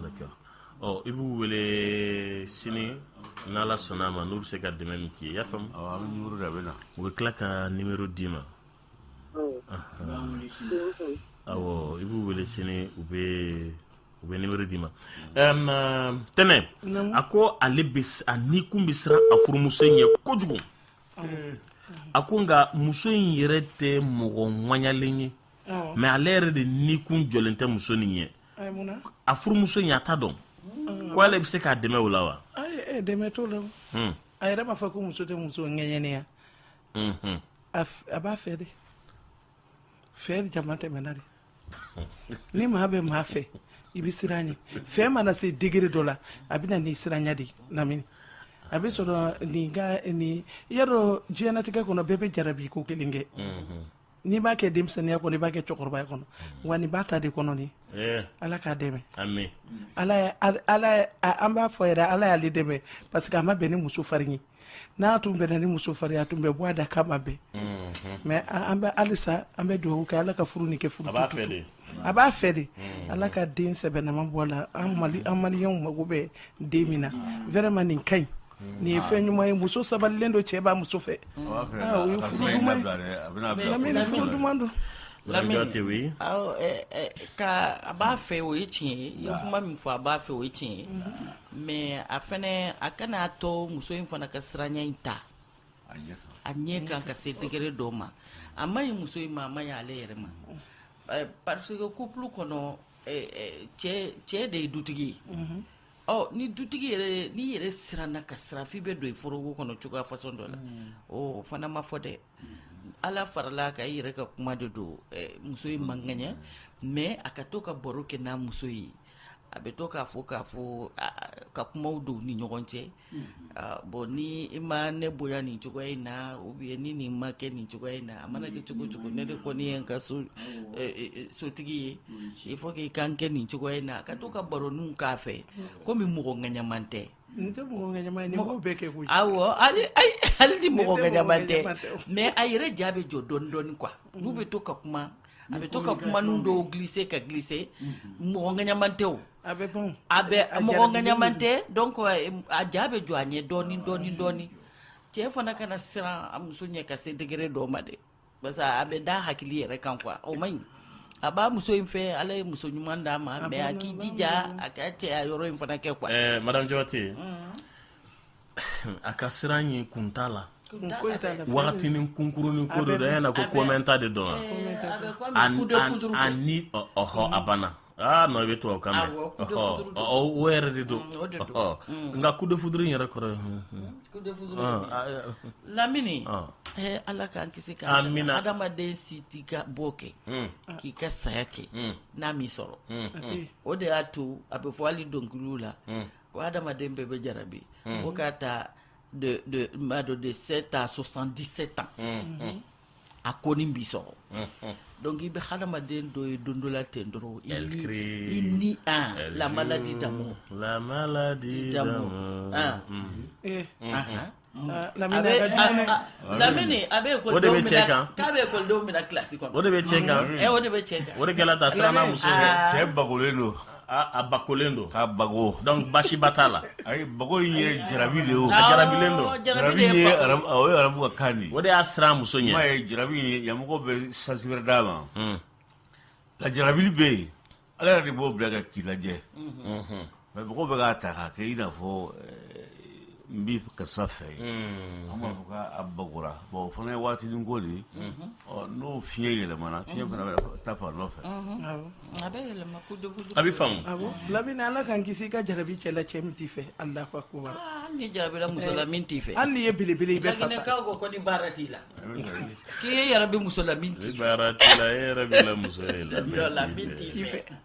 Speaker 2: d'accord ɔ i b'u wele sini n'ala sɔnna a ma n'u bɛ se ka dɛmɛ min k'i ye i y'a faamu da bɛ na u bɛ tila ka numéro d'i ma i b'u wele sini u bɛ u bɛ numéro d'i ma tɛnɛ a ko ale a nikun bɛ siran a furumuso ɲɛ kojugu a ko nka muso in yɛrɛ tɛ mɔgɔ ŋaɲalen ye mais ale yɛrɛ de nikun jɔlen tɛ muso nin ɲɛ a furumuso in a t'a dɔn ko ale bɛ se k'a dɛmɛ o la wa dɛmɛ t'o la hmm.
Speaker 3: a yɛrɛ b'a fɔ ko muso tɛ muso ŋɛɲɛnen ye hmm. a b'a fɛ de fɛ damatɛmɛna de ni maa bɛ maa fɛ i bɛ siran a ɲɛ fɛ mana se degré dɔ la a bɛ na ni siranya de lamini a bɛ sɔrɔ nin ka nin i y'a dɔn diɲɛnatigɛ kɔnɔ bɛɛ bɛ jarabi ko kelen kɛ n'i b'a kɛ denmisɛnninya kɔnɔ i b'a kɛ cɛkɔrɔbaya kɔnɔ mm. wa nin b'a ta de kɔnɔ de eh. ala k'a dɛmɛ an b'a fɔ yɛrɛ ala y'ale dɛmɛ parce que a ma bɛn ni muso farin ye n'a tun bɛnna ni muso farin a tun bɛ bɔ a da k'a ma bɛn mm-hmm. mais an bɛ halisa an bɛ dugawu kɛ ala ka furu ni kɛ furu a b'a fɛ de ala ka den sɛbɛnama bɔ a la an maliyɛnw mago bɛ den min na vraiment nin ka ɲi nin ye fɛn ɲuman ye muso sabalilen don cɛ b'a muso fɛ
Speaker 4: furu duman don ka a b'a fɛ o ye tiɲɛ ye i ye kuma min fɔ a b'a fɛ o ye tiɲɛ ye mais a fɛnɛ a kan'a to muso in fana ka siranya in ta a ɲɛ kan ka se degré dɔ ma a man ɲi muso in ma a man ɲi ale yɛrɛ ma parce que couple kɔnɔ cɛ de ye dutigi ye ɔ ni dutigi yɛrɛ n'i yɛrɛ siranna ka siran f'i bɛ don i foroko kɔnɔ cogoya façon dɔ la o fana ma fɔ dɛ ala farala ka i yɛrɛ ka kuma de don muso in man ŋaɲa mais a ka to ka baro kɛ n'a muso ye a bɛ to k'a fɔ k'a fɔ ka kumaw don ni ɲɔgɔn cɛ Bɔn ni i ma ne bonya nin cogoya in na ou bien ni nin ma kɛ nin cogoya in na a mana kɛ cogo cogo ne de kɔni ye n ka sotigi ye il faut que i ka n kɛ nin cogoya in na ka to ka baroninw k'a fɛ komi mɔgɔ ŋaɲaman
Speaker 3: tɛ
Speaker 4: tɛ hali ni mɔgɔ ŋaɲaman tɛ mais a yɛrɛ ja bɛ jɔ dɔɔnin dɔɔnin quoi n'u bɛ to ka kuma a bɛ to ka kumanin dɔw glisser ka glisser mɔgɔ ŋaɲaman tɛ A bɛ bon a bɛ a mɔgɔ ŋaɲaman tɛ donc a ja bɛ jɔ a ɲɛ dɔɔnin dɔɔnin dɔɔnin cɛ fana kana siran a muso ɲɛ ka se degré dɔ ma dɛ parce que a bɛ da hakili yɛrɛ kan quoi o man ɲi a b'a muso in fɛ Ala ye muso ɲuman d'a ma mais a k'i jija a ka cɛya yɔrɔ in fana kɛ quoi ɛɛ madame Jabate
Speaker 2: a ka siran ɲɛ kun t'a la kun foyi t'a la wagatinin kunkurunin ko de don an y'a na ko komɛnta de don wa a ni ɔhɔ a banna aa non i bɛ tubabu kan mɛn o yɛrɛ de don nka coup de foudre in yɛrɛ kɔrɔ ye coup de foudre
Speaker 4: lamini ala k'an kisi ka adamaden si t'i ka bɔ kɛ k'i ka saya kɛ n'a m'i sɔrɔ o de y'a to a bɛ fɔ hali dɔnkiliw la ko adamaden bɛɛ bɛ jarabi ko k'a ta de de de 7 à 77 ans a kɔni b'i sɔrɔ donc i bɛ hadamaden dɔ ye don dɔ la ten dɔrɔn i ni i ni a la maladie d'amour la maladie d'amour lamini a bɛ o de bɛ cɛ kan k'a bɛ ekɔlidenw minɛ kilasi kɔnɔ o de bɛ cɛ kan o
Speaker 2: de bɛ cɛ kan o de
Speaker 4: kɛra ta siranna
Speaker 2: muso cɛ bagolen
Speaker 5: don a
Speaker 2: bagolen don ka bago donc
Speaker 5: basiba t'a
Speaker 2: la ayi bago in
Speaker 5: ye jarabi de ye jarabilen don
Speaker 2: jarabi ye
Speaker 5: o ye arabu ka kan de
Speaker 2: o
Speaker 5: de y'a siran
Speaker 2: muso
Speaker 5: ɲɛ m'a ye
Speaker 2: jarabi
Speaker 5: in
Speaker 2: yan
Speaker 5: mɔgɔ bɛ sens wɛrɛ d'a ma nka jarabili bɛ yen ala yɛrɛ de b'o bila ka k'i lajɛ mais mɔgɔw bɛ k'a ta k'a kɛ i n'a fɔ n b'i ka sa fɛ yen an b'a fɔ k'a bagora bon o fana ye waatinin ko de ye ɔ n'o fiɲɛ yɛlɛmana fiɲɛ fana bɛ taa fan dɔ fɛ a bɛ
Speaker 4: yɛlɛma ko dogo dogo a bɛ faamu a ko
Speaker 2: lamini ala
Speaker 3: k'an kisi i ka jarabi cɛla cɛ min t'i fɛ alahu akubar Ah, hali n'i
Speaker 4: jarabira muso la min t'i fɛ hali n'i ye belebele i bɛ
Speaker 3: fasa laginɛkaw ko ko ni baara t'i
Speaker 4: la k'i ye yarabi muso la min t'i fɛ baara t'i la e
Speaker 2: yarabila muso ye la dɔ la min t'i fɛ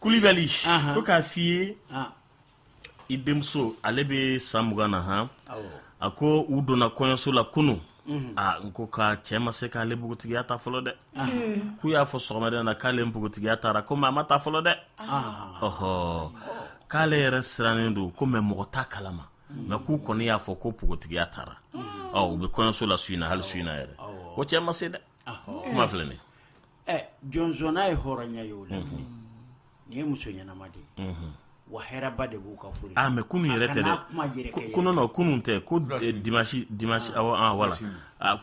Speaker 2: kulibali ko k'a f'i ye i denmuso ale bɛ san mugan na han a ko u donna kɔɲɔso la kunun mhm. a n ko k'a cɛ ma se k'ale npogotigiya ta fɔlɔ dɛ k'u y'a fɔ sɔgɔmada na k'ale npogotigiya tara ko mɛ a ma ta fɔlɔ dɛ ɔhɔ k'ale yɛrɛ sirannen don ko mɛ mɔgɔ t'a kalama mhm. mɛ k'u kɔni y'a fɔ ko npogotigiya tara mhm. ɔ u bɛ kɔɲɔso la su in na hali su in na yɛrɛ ko cɛ ma se dɛ kuma filɛ nin
Speaker 6: Ɛ jɔn sɔnna ye hɔrɔnya ye o la nin ye muso ɲɛnama de ye wa hɛrɛba de b'u ka furu mɛ kunun yɛrɛ tɛ
Speaker 2: kun kunun tɛ ko dimasi wala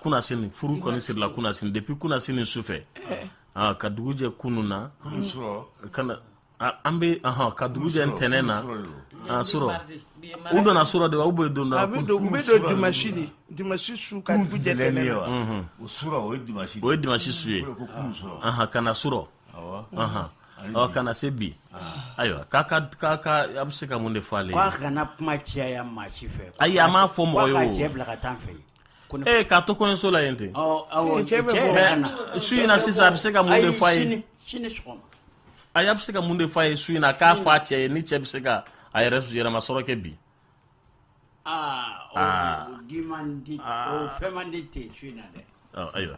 Speaker 2: kunasini furu kɔni sirila kunasini depuis kunasini sufɛ ka dugujɛ kunun na an bɛ ka dugu jɛ ntɛnɛn na surɔ u donna surɔ de u bɛ don u bɛ don dimasi de
Speaker 3: dimasi su ka dugu jɛ ntɛnɛn na o su o ye
Speaker 5: dimasi o ye dimasi su ye
Speaker 2: ka na surɔ ɔ ka na se bi ayiwa k'a ka k'a ka a bɛ se ka mun de fɔ ale ye k'a kana kuma
Speaker 6: caya maa si fɛ ayi a m'a fɔ mɔgɔ ye
Speaker 2: o k'a cɛ bila ka taa fɛ
Speaker 6: Ee k'a to kɔɲɔso la yen ten su in na sisan a bɛ se
Speaker 2: ka mun de f'a
Speaker 6: ye a bɛ se
Speaker 2: ka mun de f'a ye su in na k'a f'a cɛ ye ni cɛ bɛ se ka a yɛrɛ yɛrɛma sɔrɔ kɛ
Speaker 6: bi ayiwa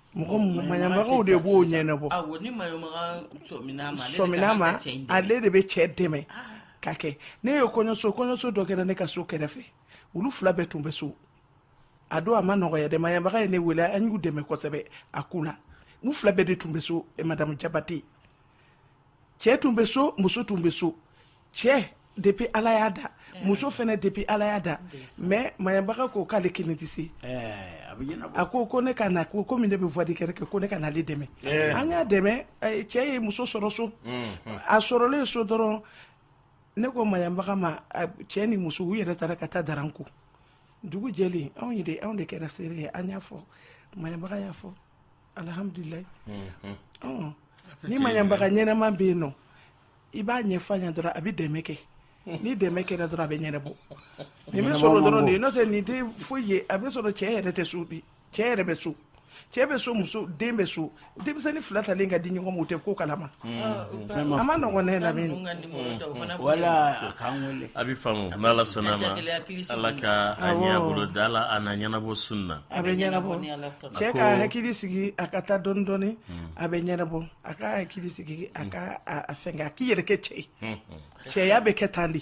Speaker 3: mɔgɔ maɲabagaw de b'o ɲɛnabɔ sɔmina ma ale de bɛ cɛ dɛmɛ ka kɛ ne ye kɔɲɔso kɔɲɔso dɔ kɛra ne ka so kɛrɛfɛ olu fila bɛɛ tun bɛ so a don a ma nɔgɔya dɛ maɲabaga ye ne wele an y'u dɛmɛ kosɛbɛ a ko la u fila bɛɛ de tun bɛ so madamu jabate cɛ tun bɛ so muso tun bɛ so cɛ depuis ala y'a da muso fana depuis ala y'a da mais maɲabaga ko k'ale kelen tɛ se a ko ko ne ka na ko komi ne bɛ voie de kɛrɛfɛ ko ne ka n'ale dɛmɛ an y'a dɛmɛ cɛ ye muso sɔrɔ so a sɔrɔlen so dɔrɔn ne ko maɲabaga ma cɛ ni muso u yɛrɛ taara ka taa daran ko dugu jɛlen anw ye de anw de kɛra seere ye an y'a fɔ maɲabaga y'a fɔ alhamdulilayi ni maɲabaga ɲɛnama bɛ yen nɔ i b'a ɲɛf'a ɲɛ dɔrɔn a bɛ dɛmɛ kɛ ni dɛmɛ kɛra dɔrɔn a bɛ ɲɛnabɔ nin bɛ sɔrɔ dɔrɔn de ye n'o tɛ nin tɛ foyi ye a bɛ sɔrɔ cɛ yɛrɛ tɛ so bi cɛ yɛrɛ bɛ so cɛ bɛ so muso den bɛ so denmisɛnnin fila talen ka di ɲɔgɔn ma o tɛ ko kalama a man nɔgɔn ne lamini
Speaker 6: wala a bɛ faamu n'ala
Speaker 2: sɔnna ma ala ka a ɲɛbolo da la a na ɲɛnabɔ sun na a bɛ ɲɛnabɔ
Speaker 3: cɛ ka hakili sigi a ka taa dɔɔnin dɔɔnin a bɛ ɲɛnabɔ A ka hakili sigi a ka a fɛngɛ a k'i yɛrɛ kɛ cɛ ye cɛya bɛ kɛ tan de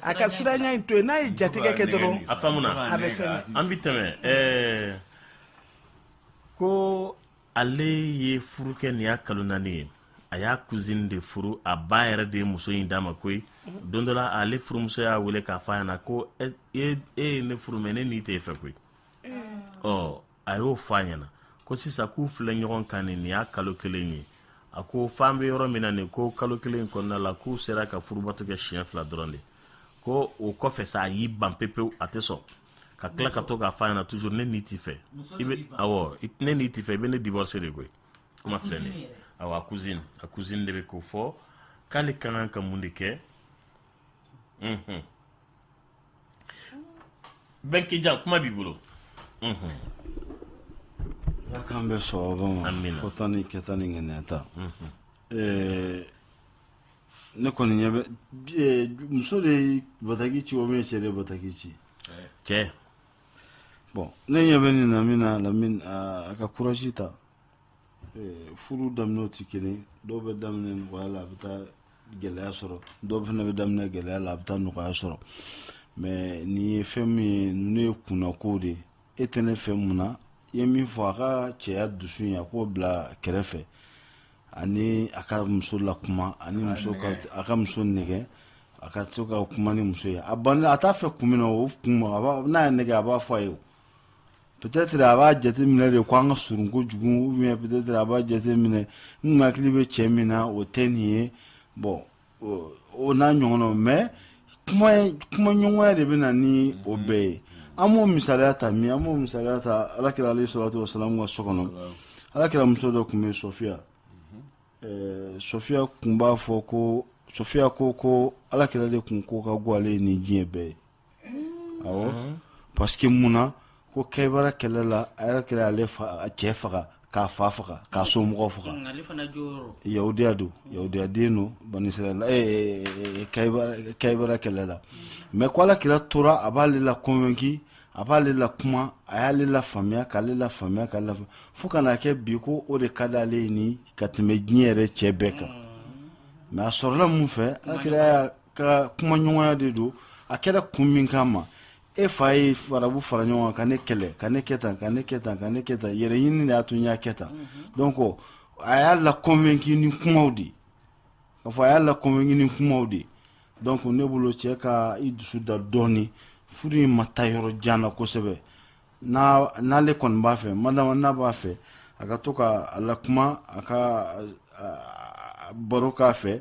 Speaker 3: a ka siranya in to yen n'a ye jatigɛ kɛ dɔrɔn a faamuna a bɛ
Speaker 2: fɛngɛ an bɛ
Speaker 3: tɛmɛ
Speaker 2: ko ale ye furu kɛ nin y'a kalo naani ye a y'a cousine de furu a ba yɛrɛ de ye muso in d'a ma koyi don dɔ la ale furumuso y'a wele k'a fɔ a ɲɛna na ko e ye ne furu mais ne ni tɛ e fɛ koyi ɔ a y'o fɔ a ɲɛna ko sisan k'u filɛ ɲɔgɔn kan nin nin y'a kalo kelen ye a ko f'an bɛ yɔrɔ min na nin ko kalo kelen kɔnɔna la k'u sera ka furubato kɛ siɲɛ fila dɔrɔn de ko o kɔfɛ sa a y'i ban pepewu a tɛ sɔn ka tila ka to k'a fɔ a ɲɛna toujours ne ni t'i fɛ i bɛ awɔ ne ni t'i fɛ i bɛ ne divorcer de koyi kuma filɛ nin ye awɔ a cousine a cousine de bɛ k'o fɔ k'ale ka kan ka mun de kɛ unhun. bɛnkɛjan kuma b'i
Speaker 7: bolo ala k'an bɛn sawaba ma Amina. fɔta ni kɛta ni ŋaniyata Eh, ne kɔni ɲɛ bɛ eh, muso de ye bataki ci o min ye cɛ de ye bataki ci cɛ bon ne ɲɛ bɛ nin na min na lamin a ka courage ta Eh, furu daminɛw tɛ kelen dɔw bɛ daminɛ nɔgɔya la a bɛ taa gɛlɛya sɔrɔ dɔw fana bɛ daminɛ gɛlɛya la a bɛ taa nɔgɔya sɔrɔ mais nin ye fɛn min ye ninnu ye kunnako de ye e tɛ ne fɛ mun na i ye min fɔ a ka cɛya dusu in a k'o bila kɛrɛfɛ ani a ka muso lakuma ani muso a ka muso nɛgɛ a ka to ka kuma ni muso ye a ban a t'a fɛ kun min na o kun a n'a ye nɛgɛ a b'a fɔ a ye peut-être a b'a jateminɛ de ko an ka surun kojugu ou bien peut-être a b'a jateminɛ n hakili bɛ cɛ min na o tɛ nin ye bon o n'a ɲɔgɔnnaw mais kuma ɲɔgɔnya de bɛ na ni o bɛɛ ye an b'o misaliya ta min an b'o misaliya ta ala kira alayhi salatu wasalamu ka so kɔnɔ ala kira muso dɔ tun bɛ sɔfiya sɔfiya tun b'a fɔ ko sɔfiya ko ko ala kira de tun ko ka go ale ye nin diɲɛ bɛɛ ye parce que mun na ko Kaybara kɛlɛ la ala kira y'ale cɛ faga k'a fa faga k'a somɔgɔw faga
Speaker 4: yahudiya don
Speaker 7: yahudiyaden don Bani Israɛl Kaybara kɛlɛ la mais ko ala kira tora a b'ale la convaincu a b'ale la kuma a y'ale la faamuya k'ale la faamuya fo ka n'a kɛ bi ko o de ka di ale ye ni ka tɛmɛ diɲɛ yɛrɛ cɛ bɛɛ kan mais a sɔrɔla mun fɛ ala kira ka kumaɲɔgɔnya de don a kɛra kun min kama e fa ye farabu fara ɲɔgɔn kan ka ne kɛlɛ ka ne kɛ tan ka ne kɛ tan ka ne kɛ tan yɛrɛ ɲini de y'a to n y'a kɛ tan donc a y'a la convaincu ni kumaw de k'a fɔ a y'a la convaincu ni kumaw de donc ne bolo cɛ ka i dusu da dɔɔni furu in ma taa yɔrɔ jan na kosɛbɛ n'ale kɔni b'a fɛ madama n'a b'a fɛ a ka to ka a la kuma a ka baro k'a fɛ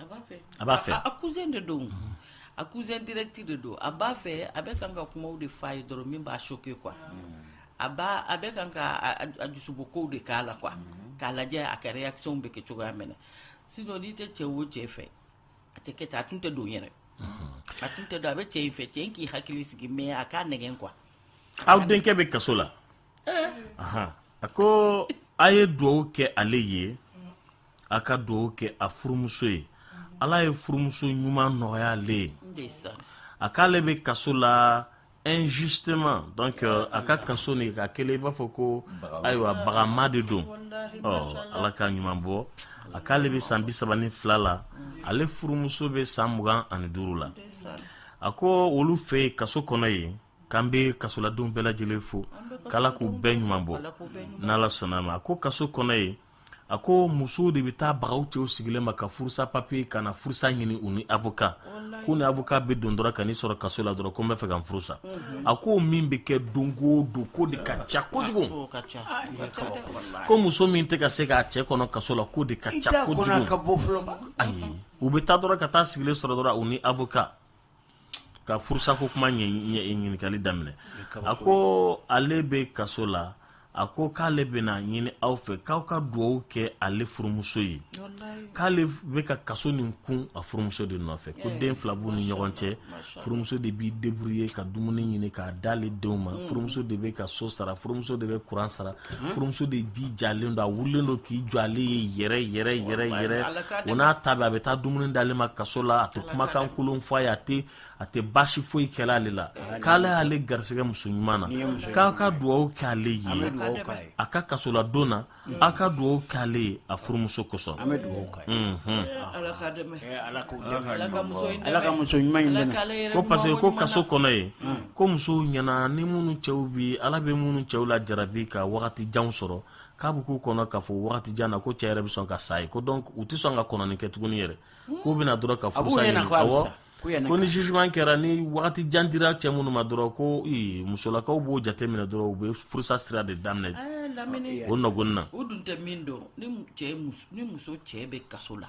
Speaker 2: a b'a fɛ a b'a fɛ a cousin de
Speaker 4: don a cousin direct de don a b'a fɛ a bɛ kan ka kumaw de f'a ye dɔrɔn min b'a choquer quoi a b'a a bɛ kan ka a- a- a dusubɔ kow de k'a la quoi k'a lajɛ a ka réaction bɛ kɛ cogoya min na sinon n'i tɛ cɛ o cɛ fɛ a tɛ kɛ ten a tun tɛ don yɛrɛ a tun tɛ don a bɛ cɛ in fɛ cɛ in k'i hakili sigi mais a k'a nɛgɛn quoi aw denkɛ
Speaker 2: bɛ kaso la Ahan. a ko a ye dugawu kɛ ale ye a ka dugawu kɛ a furumuso ye ala ye furumuso ɲuman nɔgɔya ale ye a k'ale bɛ kaso la injustement donc euh, a ka kaso nin ka kelen i b'a fɔ ko ayiwa bagama de don ɔ ala k'a ɲuman bɔ a k'ale bɛ san bi saba ni fila la ale furumuso bɛ san mugan ani duuru la a ko olu fɛ yen kaso kɔnɔ yen k'an bɛ kasoladenw bɛɛ lajɛlen fo k'ala k'u bɛɛ ɲuman bɔ n'ala sɔnna a ma a ko kaso kɔnɔ yen a ko musow de bɛ taa baga u cɛw sigilen ma ka furusa papier ka na furusa ɲini u ni avocat k'u ni avocat bɛ don dɔrɔn ka n'i sɔrɔ kaso la dɔrɔn ko n bɛ fɛ ka n furusa a ko min bɛ kɛ don o don k'o de ka ca kojugu ko muso min tɛ ka se k'a cɛ kɔnɔ kaso la k'o de ka ca kojugu ayi u bɛ taa dɔrɔn ka taa sigilen sɔrɔ dɔrɔn u ni avocat ka furusa ko kuma ɲininkali daminɛ a ko ale bɛ kaso la a ko k'ale bɛna ɲini aw fɛ k'aw ka dugawu kɛ ale furumuso ye k'ale bɛ ka kaso nin kun a furumuso de nɔfɛ ko den fila b'u ni ɲɔgɔn cɛ furumuso de b'i débrouiller ka dumuni ɲini k'a d'ale denw ma furumuso de bɛ ka so sara furumuso de bɛ kuran sara furumuso de jijalen don a wulilen don k'i jɔ ale ye yɛrɛ yɛrɛ yɛrɛ yɛrɛ o n'a ta bɛɛ a bɛ taa dumuni d'ale ma kaso la a tɛ kumakan kolon fɔ a ye a tɛ a tɛ baasi foyi kɛla ale la k'ale y'ale garisɛgɛ muso ɲuman na k'a ka dugawu kɛ ale ye a ka kasoladon na a ka dugawu kɛ ale ye a furumuso kosɔn an bɛ dugawu k'a ye ala k'a dɛmɛ ala ka muso ɲuman in dɛmɛ ko parce que ko kaso kɔnɔ ye ko musow ɲɛna ni minnu cɛw bi ala bɛ minnu cɛw lajarabi ka wagati janw sɔrɔ k'a bɛ k'u kɔnɔ k'a fɔ wagati jan na ko cɛ yɛrɛ bɛ sɔn ka sa yen ko donc u tɛ sɔn ka kɔnɔni kɛ tuguni yɛrɛ hmm. k'u bɛ na dɔrɔn ka furusa ɲini awɔ ko ni jugement kɛra ni wagati jan dira cɛ minnu ma dɔrɔn ko ee musolakaw b'o jate minɛ dɔrɔn u bɛ furusa sira de daminɛ eh,
Speaker 4: o ɲɔgɔn na
Speaker 2: o dun tɛ min dɔn
Speaker 4: ni cɛ ni muso cɛ bɛ kaso la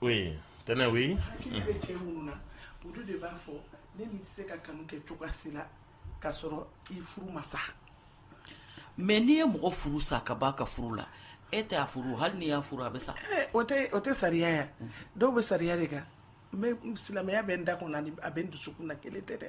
Speaker 2: Oui, tɛnɛ oui. Hakili bɛ cɛ
Speaker 3: minnu na olu de b'a fɔ ne n'i tɛ se ka kanu kɛ cogoya si la k'a sɔrɔ i furu ma sa.
Speaker 4: Mais n'i ye mɔgɔ furu sa k'a b'a ka furu la e tɛ a furu hali n'i y'a furu a bɛ sa. Eh, o tɛ o
Speaker 3: tɛ sariya ye dɔw bɛ sariya de kan n bɛ silamɛya bɛ n da kɔnɔ ani a bɛ n dusukun na kelen tɛ dɛ.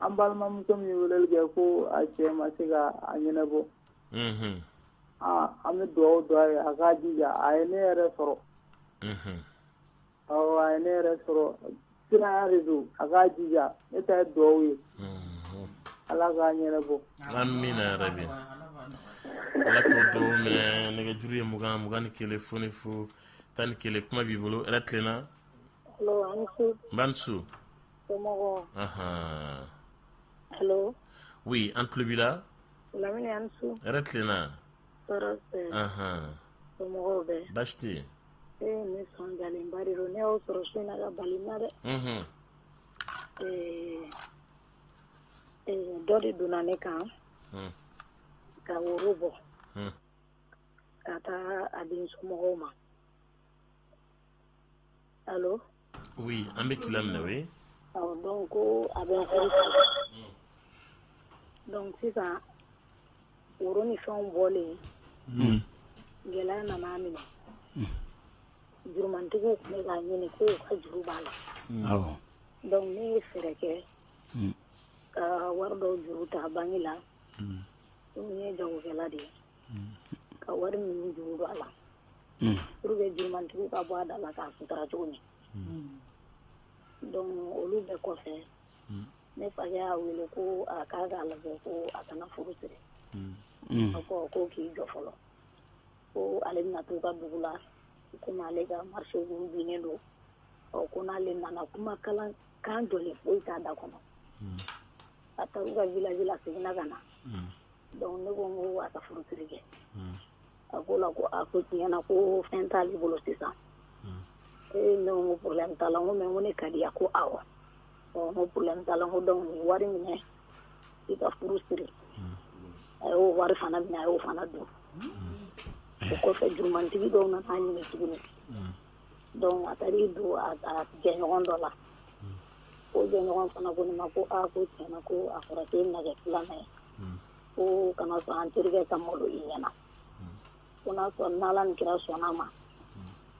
Speaker 9: An balimamuso min ye weleli kɛ ko a cɛ ma se ka a ɲɛnabɔ, unhun, aa an bɛ dugawu don a ye a k'a jija a ye ne yɛrɛ sɔrɔ, unhun, awɔ a ye ne yɛrɛ sɔrɔ kiraya de don a k'a jija ne ta ye dugawu ye, unhun, Ala k'a ɲɛnabɔ, amina
Speaker 2: yarabi, Ala k'o dugawu minɛ nɛgɛjuru ye 20 21 fu ni fu 11 kuma b'i bolo, hɛrɛ tilenna, allo a' ni su, n ba ni su
Speaker 1: wuli
Speaker 2: an tulobi yɛrɛ
Speaker 1: tilenna baasi dɔ de donna ne kan ka woro bɔ ka taa a den somɔgɔw ma Oui
Speaker 2: an bɛ k'i lamɛn oui awɔ donc
Speaker 1: ko a bɛ n furu sa donc sisan woro ni fɛnw bɔlen unhun gɛlɛya nana a minɛ jurumantigiw tun bɛ k'a ɲini k'u ka juru b'a la awɔ donc ne ye fɛɛrɛ kɛ ka wari dɔw juru ta banki la komi ne ye jagokɛla de ye ka wari minnu juru don a la Mm. pour que jurumantigiw ka bɔ a da la k'a sutura cogo min donc olu bɛɛ kɔfɛ ne fakɛ y'a wele ko a k'a k'a lajɛ ko a kana furu siri Mm. a ko ko k'i jɔ fɔlɔ ko ale bɛna t'u ka dugu la komi ale ka marché b'u binnen don ɔ ko n'ale nana kuma kalan kan jɔlen foyi t'a da kɔnɔ a taar'u ka village la seginna ka na Donc ne ko n ko a ka furusiri kɛ unhun a k'o la ko a ko tiɲɛ na ko fɛn t'ale bolo sisan unhun ee ne ko n ko problème t'a la n ko mais n ko ne ka di a ko awɔ ɔ n ko problème t'a la n ko donc nin wari minɛ i ka furu siri a y'o wari fana minɛ a y'o fana dun o kɔfɛ jurumantigi dɔw nana a ɲini tuguni Donc a taara i don a jɛɲɔgɔn dɔ la o jɛɲɔgɔn fana ko ne ma ko ko tiɲɛ na ko a fɔra k'e bɛna kɛ filanan ye ko kana sɔn an terikɛ ka malo i ɲɛ na ko n'a sɔrɔ n'ala ni kira sɔnn'a ma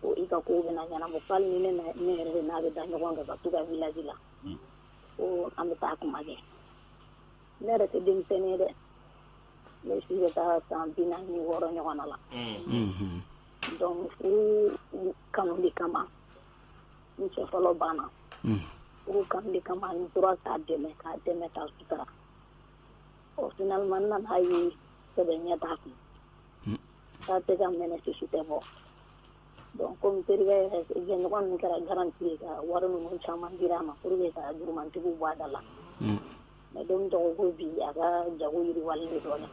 Speaker 1: ko i ka ko bɛna ɲɛnabɔ hali ni ne yɛrɛ de n'a bɛ da ɲɔgɔn kan ka t'u ka village la ko an bɛ taa kuma kɛ ne yɛrɛ tɛ denmisɛnnin ye dɛ ne si bɛ taa san bi naani ni wɔɔrɔ ɲɔgɔn la Donc furu kanu de kama n cɛ fɔlɔ banna furu kanu de kama n tora k'a dɛmɛ k'a dɛmɛ k'a sutura ɔ finalement n nan'a ye sɛbɛ ɲɛ t'a kun k'a tɛ ka mɛnɛ sisi tɛ bɔ donc comme terikɛ yɛrɛ jɛɲɔgɔn ninnu kɛra garanti ye ka wari ninnu caman dira a ma pour que ka jurumantigiw bɔ a da la mais don min tɔgɔ ko bi a ka jago yiriwalen de dɔɔnin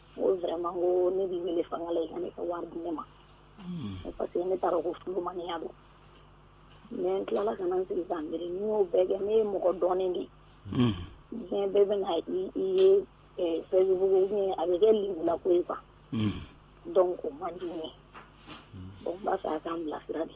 Speaker 1: ne b'i wele fanga la i ka ne ka wari di ne ma parce que ne taara ko furu maniya don mais n tilala ka na n sigi ka n miiri n'i y'o bɛɛ kɛ ne ye mɔgɔ dɔnnen de ye diɲɛ bɛɛ bɛna i ye facebook ou bien a bɛ kɛ lebula ko ye quoi donc
Speaker 10: o man di n ye donc n b'a fɛ a ka n bilasira de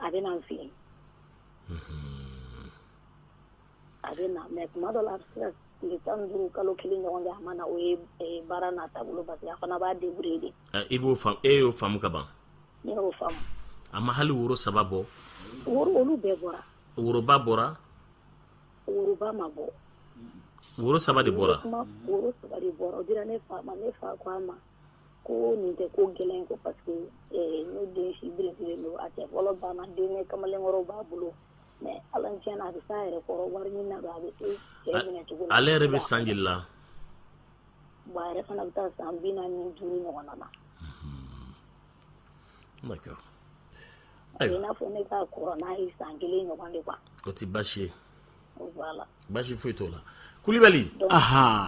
Speaker 2: a bɛ na n
Speaker 10: fɛ yen, unhun, a bɛ na mais tuma dɔ la a bɛ se ka tile 15 kalo 1 ɲɔgɔn kɛ a ma na o ye ɛ baara n'a taabolo parce que a fana b'a débrouiller de, ɛ i b'o faamu e y'o
Speaker 2: faamu ka ban, ne y'o
Speaker 10: faamu, a ma hali
Speaker 2: woro saba bɔ, woro olu
Speaker 10: bɛɛ bɔra, woroba bɔra, woroba ma bɔ, woro
Speaker 2: saba de bɔra, comme woro saba de
Speaker 10: bɔra o dira ne fa ma ne fa ko a ma ko nin tɛ ko gɛlɛn ko parce que eh, ne den si belebele don a cɛ fɔlɔ banna denkɛ kamalenkɔrɔw b'a bolo mais ala ni tiɲɛ na a bɛ s'a yɛrɛ kɔrɔ wariɲinina don a bɛ se cɛ minɛ cogo la ale yɛrɛ bɛ san joli la bon a yɛrɛ fana bɛ taa san bi naani ni duuru ɲɔgɔn
Speaker 2: na d'accord
Speaker 10: a bɛ i ayiwa n'a fɔ ne ka kɔrɔ n'a ye san kelen ɲɔgɔn de quoi o tɛ baasi ye baasi foyi t'o
Speaker 2: la kulubali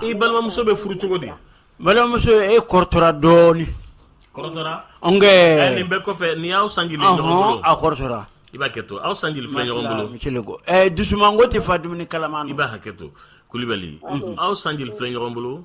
Speaker 2: i balimamuso bɛ furu cogo di balimamuso e
Speaker 6: kɔrɔtɔra dɔɔni
Speaker 2: kɔrɔtɔra nin
Speaker 6: bɛɛ kɔfɛ ni
Speaker 2: y'aw san joli a kɔrɔtɔra
Speaker 6: i b'a hakɛ to aw
Speaker 2: san joli filɛ ɲɔgɔn bolo dusumango
Speaker 6: tɛ fa dumuni kalama na i b'a hakɛ to
Speaker 2: kulubali aw san joli filɛ ɲɔgɔn bolo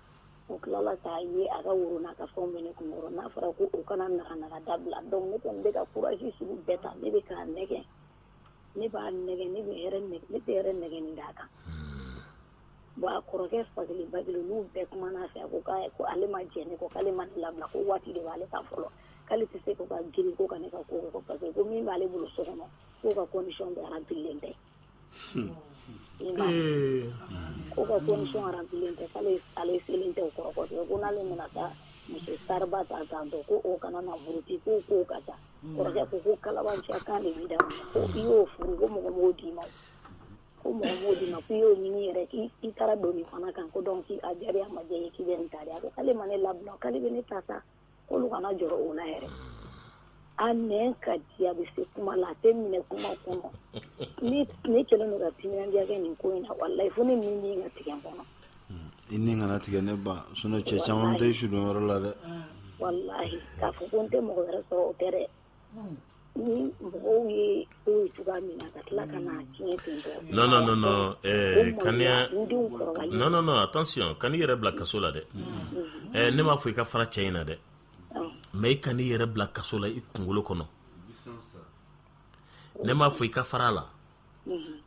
Speaker 10: O tilala k'a ye a ka woro n'a ka fɛnw bɛ ne kunkɔrɔ n'a fɔra ko u kana naga naga dabila donc ne kɔni bɛ ka courage sugu bɛɛ ta ne bɛ k'a nɛgɛn ne b'a nɛgɛn ne bɛ hɛrɛ nɛgɛn ne tɛ hɛrɛ nɛgɛn ni d'a kan bon a kɔrɔkɛ fakelen bakelen n'u bɛɛ kumana a fɛ a ko k'a ko ale ma jɛn ne kɔ k'ale ma ne labila ko waati de b'ale ta fɔlɔ k'ale tɛ se ko ka girin ko ka ne ka ko kɛ ko parce que ko min b'ale bolo so kɔnɔ k'o ka condition bɛɛ remplilen tɛ Ko ka condition remplilen tɛ k'ale selen tɛ o kɔrɔ ko n'ale mana taa muso sariba ta san tɔ ko o kana na buruti ko ko ka taa kɔrɔkɛ ko ko kalabanciya kan de b'i da ko i y'o furu ko mɔgɔ m'o d'i ma ko mɔgɔ m'o d'i ma ko i y'o ɲini yɛrɛ k'i taara don nin fana kan ko donc a jaabi ma diya ye k'i bɛ nin ta di a ko k'ale ma ne labila k'ale bɛ ne ta sa k'olu kana jɔrɔ o la yɛrɛ a nɛn ka di a bɛ se kuma la a tɛ minɛ kuma kɔnɔ ne kɛlen don ka timinandiya kɛ nin ko in na walayi fo ne nin nin ka tigɛ n kɔnɔ i
Speaker 7: ni kana tigɛ ne ba sinon cɛ caman tɛ sudon yɔrɔ la dɛ walayi
Speaker 10: k'a fɔ ko n tɛ mɔgɔ wɛrɛ sɔrɔ o tɛ dɛ
Speaker 2: Kan'i yɛrɛ bila kaso la dɛ ne m'a fɔ i ka fara cɛ in na dɛ mais i kan'i yɛrɛ bila kaso la i kunkolo kɔnɔ ne m'a fɔ i ka far'a la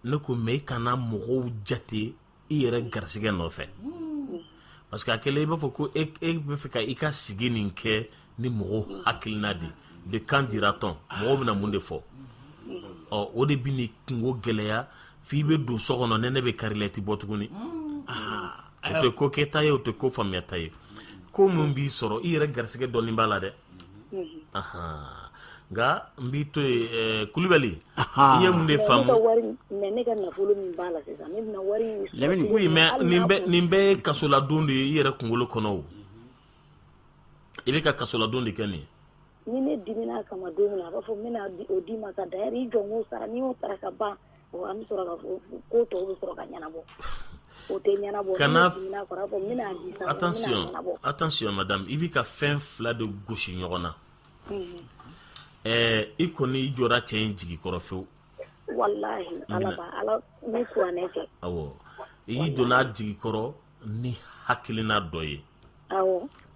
Speaker 2: ne ko mais i kana mɔgɔw jate i yɛrɛ garisɛgɛ nɔfɛ parce que a kɛlen i b'a fɔ ko e bɛ fɛ ka i ka sigi nin kɛ ni mɔgɔw hakilina de ye qu'en-dira-t-on mɔgɔw bɛna mun de fɔ ɔ o de bɛ n'i kunko gɛlɛya f'i bɛ don so kɔnɔ nɛnɛ bɛ kari la i tɛ bɔ tuguni o tɛ ko kɛta ye o tɛ ko faamuyata ye ko min b'i sɔrɔ i yɛrɛ garisɛgɛ dɔɔnin b'a la dɛ nka n b'i to yen Kulubali i ye mun
Speaker 10: de faamu ne ka nafolo min
Speaker 2: b'a la sisan ne bɛna wari oui mais nin bɛɛ ye kasoladon de ye i yɛrɛ kunkolo kɔnɔ o i bɛ ka kasoladon de kɛ nin ye ni ne dimina
Speaker 10: kama don min na a b'a fɔ n bɛna o d'i ma ka da i jɔ n k'o sara n'i y'o sara ka ban An bɛ sɔrɔ ko tɔw bɛ sɔrɔ ka ɲɛnabɔ o tɛ
Speaker 2: ɲɛnabɔ attention
Speaker 10: attention madame i bɛ
Speaker 2: ka fɛn fila de gosi ɲɔgɔn na ɛɛ i kɔni i jɔra cɛ in jigi kɔrɔ
Speaker 10: fewu walayi
Speaker 2: i donna a jigi kɔrɔ ni hakilina dɔ
Speaker 10: ye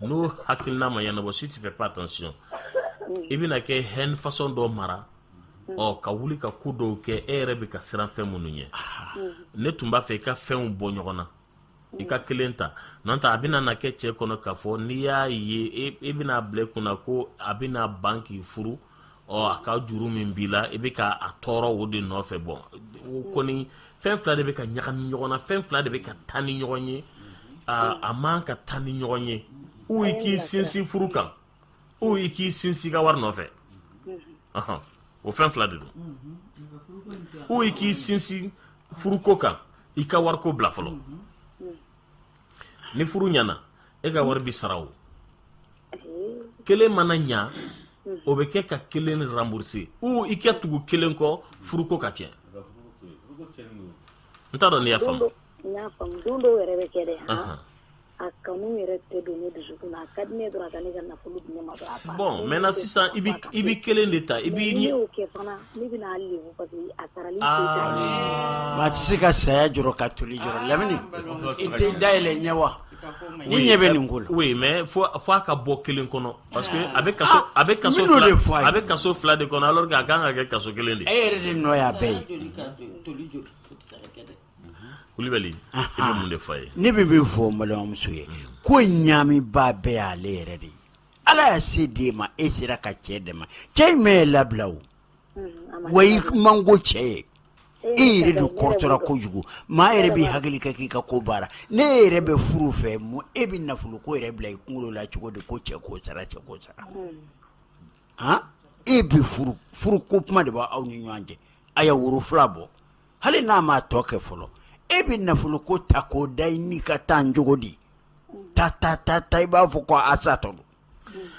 Speaker 10: n'o
Speaker 2: hakilina ma ɲɛnabɔ si tu fais pas attention i bɛna kɛ haine façon dɔ mara mm. ɔ ka wuli ka ko dɔw kɛ e yɛrɛ bɛ ka siran fɛn minnu ɲɛ mm. ne tun b'a fɛ i ka fɛnw bɔ ɲɔgɔn na i ka kelen ta n'o tɛ a bɛna na kɛ cɛ kɔnɔ k'a fɔ n'i y'a ye i bɛna bila i kunna ko a bɛna ban k'i furu ɔ a ka juru min b'i la i bɛ ka a tɔɔrɔ o de nɔfɛ bon o kɔni fɛn fila de bɛ ka ɲagami ɲɔgɔn na fɛn fila de bɛ ka taa ni ɲɔgɔn ye a man ka taa ni ɲɔgɔn ye ou i k'i sinsin furu kan ou i k'i sinsin i ka wari nɔfɛ o fɛn fila de don ou i k'i sinsin furuko kan i ka wariko bila fɔlɔ ni furu ɲana e ka wari bɛ sara o kelen mana ɲa o bɛ kɛ ka kelen rembourser ou i ka tugu kelen kɔ furuko ka tiɲɛ n t'a dɔn n'i y'a faamu
Speaker 10: don dɔw yɛrɛ bɛ kɛ dɛ a kanu yɛrɛ tɛ don ne dusukun na a ka di ne dɔrɔn a ka ne ka nafolo di ne ma dɔrɔn a banna bon maintenant sisan
Speaker 2: i bɛ kelen de ta i bɛ kɛ fana
Speaker 10: Maa tɛ se ka
Speaker 6: saya jɔrɔ ka toli jɔrɔ lamini i tɛ da yɛlɛ ɲɛ wa ni ɲɛ bɛ nin ko la mais fo a
Speaker 2: ka bɔ kelen kɔnɔ parce que a bɛ a bɛ ka fɔ a bɛ kaso fila de kɔnɔ alors que a kan ka kɛ kaso kelen de e yɛrɛ de nɔ y'a
Speaker 6: bɛɛ
Speaker 2: ye Kulibali i bɛ mun de f'a ye ne bɛ min fɔ
Speaker 6: balimamuso ye ko ɲaami ba bɛɛ y'ale yɛrɛ de ye Ala y'a se di e ma e sera ka cɛ dɛmɛ cɛ in ma e labila o wa i man go cɛ ye e yɛrɛ de kɔrɔtɔra kojugu maa yɛrɛ b'i hakili kɛ k'i ka ko baara n'e yɛrɛ bɛ furu fɛ mun e bɛ nafolo ko yɛrɛ bila i kunkolo la cogo di ko cɛ k'o sara cɛ k'o sara a e bɛ furu ko kuma de b'aw ni ɲɔgɔn cɛ a ye woro fila bɔ hali n'a ma tɔ kɛ fɔlɔ e bɛ nafolo ko ta k'o da i n'i ka taa cogo di ta ta ta ta i b'a fɔ ko a sa tɔ don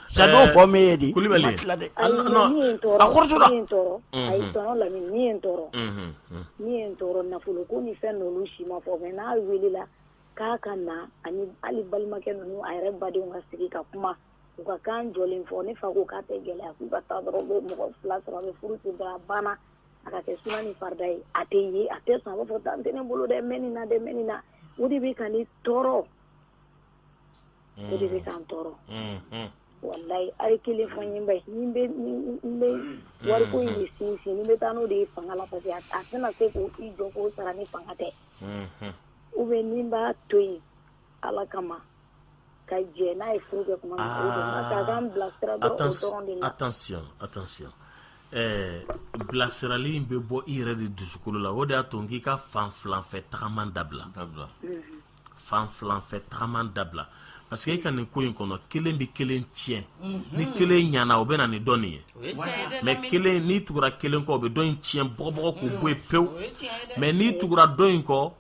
Speaker 6: sa n'o fɔ min ye di Kulibali ma tila dɛ a
Speaker 2: n
Speaker 10: nɔ min ye n tɔɔrɔ a kɔrɔtɔla min ye n tɔɔrɔ ayi Unhun. tɔnɔ Lamini min ye n tɔɔrɔ Unhun, unhun. min ye n tɔɔrɔ nafolo ko ni fɛn ninnu si ma fɔ mais n'a welela k'a ka na ani hali balimakɛ ninnu a yɛrɛ badenw ka sigi ka kuma u ka kan jɔlen fɔ ne fa ko k'a tɛ gɛlɛya k'u ka taa dɔrɔn u bɛ mɔgɔ fila sɔrɔ a bɛ furu ten dɔrɔn a banna a ka kɛ suna ni farida ye a tɛ ye a tɛ sɔn a b'a fɔ tan tɛ ne bolo dɛ mɛ nin na dɛ mɛ nin na o de bɛ ka ne tɔɔrɔ o de bɛ ka n tɔɔrɔ walayi a ye kelen fɔ n ye bani ni n bɛ wariko in de sinsin ni n bɛ taa n'o de ye fanga la parce que a tɛna se k'i jɔ k'o sara ni fanga tɛ ou bien ni n b'a to yen Ala kama ka jɛ n'a ye furu kɛ tuma min na, aa, a ka n
Speaker 2: bilasira dɔrɔn o dɔrɔn de la, attention attention ɛɛ bilasirali in bɛ bɔ i yɛrɛ de dusukolo la o de y'a to n k'i ka fan filanfɛ tagama dabila, dabila, unhun, fan filanfɛ tagama dabila parce que e ka nin ko in kɔnɔ kelen bɛ kelen tiɲɛ ni kelen ɲana o bɛ na ni dɔ nin ye mais kelen n'i tugura kelen kɔ o bɛ dɔ in tiɲɛ bɔgɔbɔgɔ k'o bɔ yen pewu mais n'i tugura dɔ in kɔ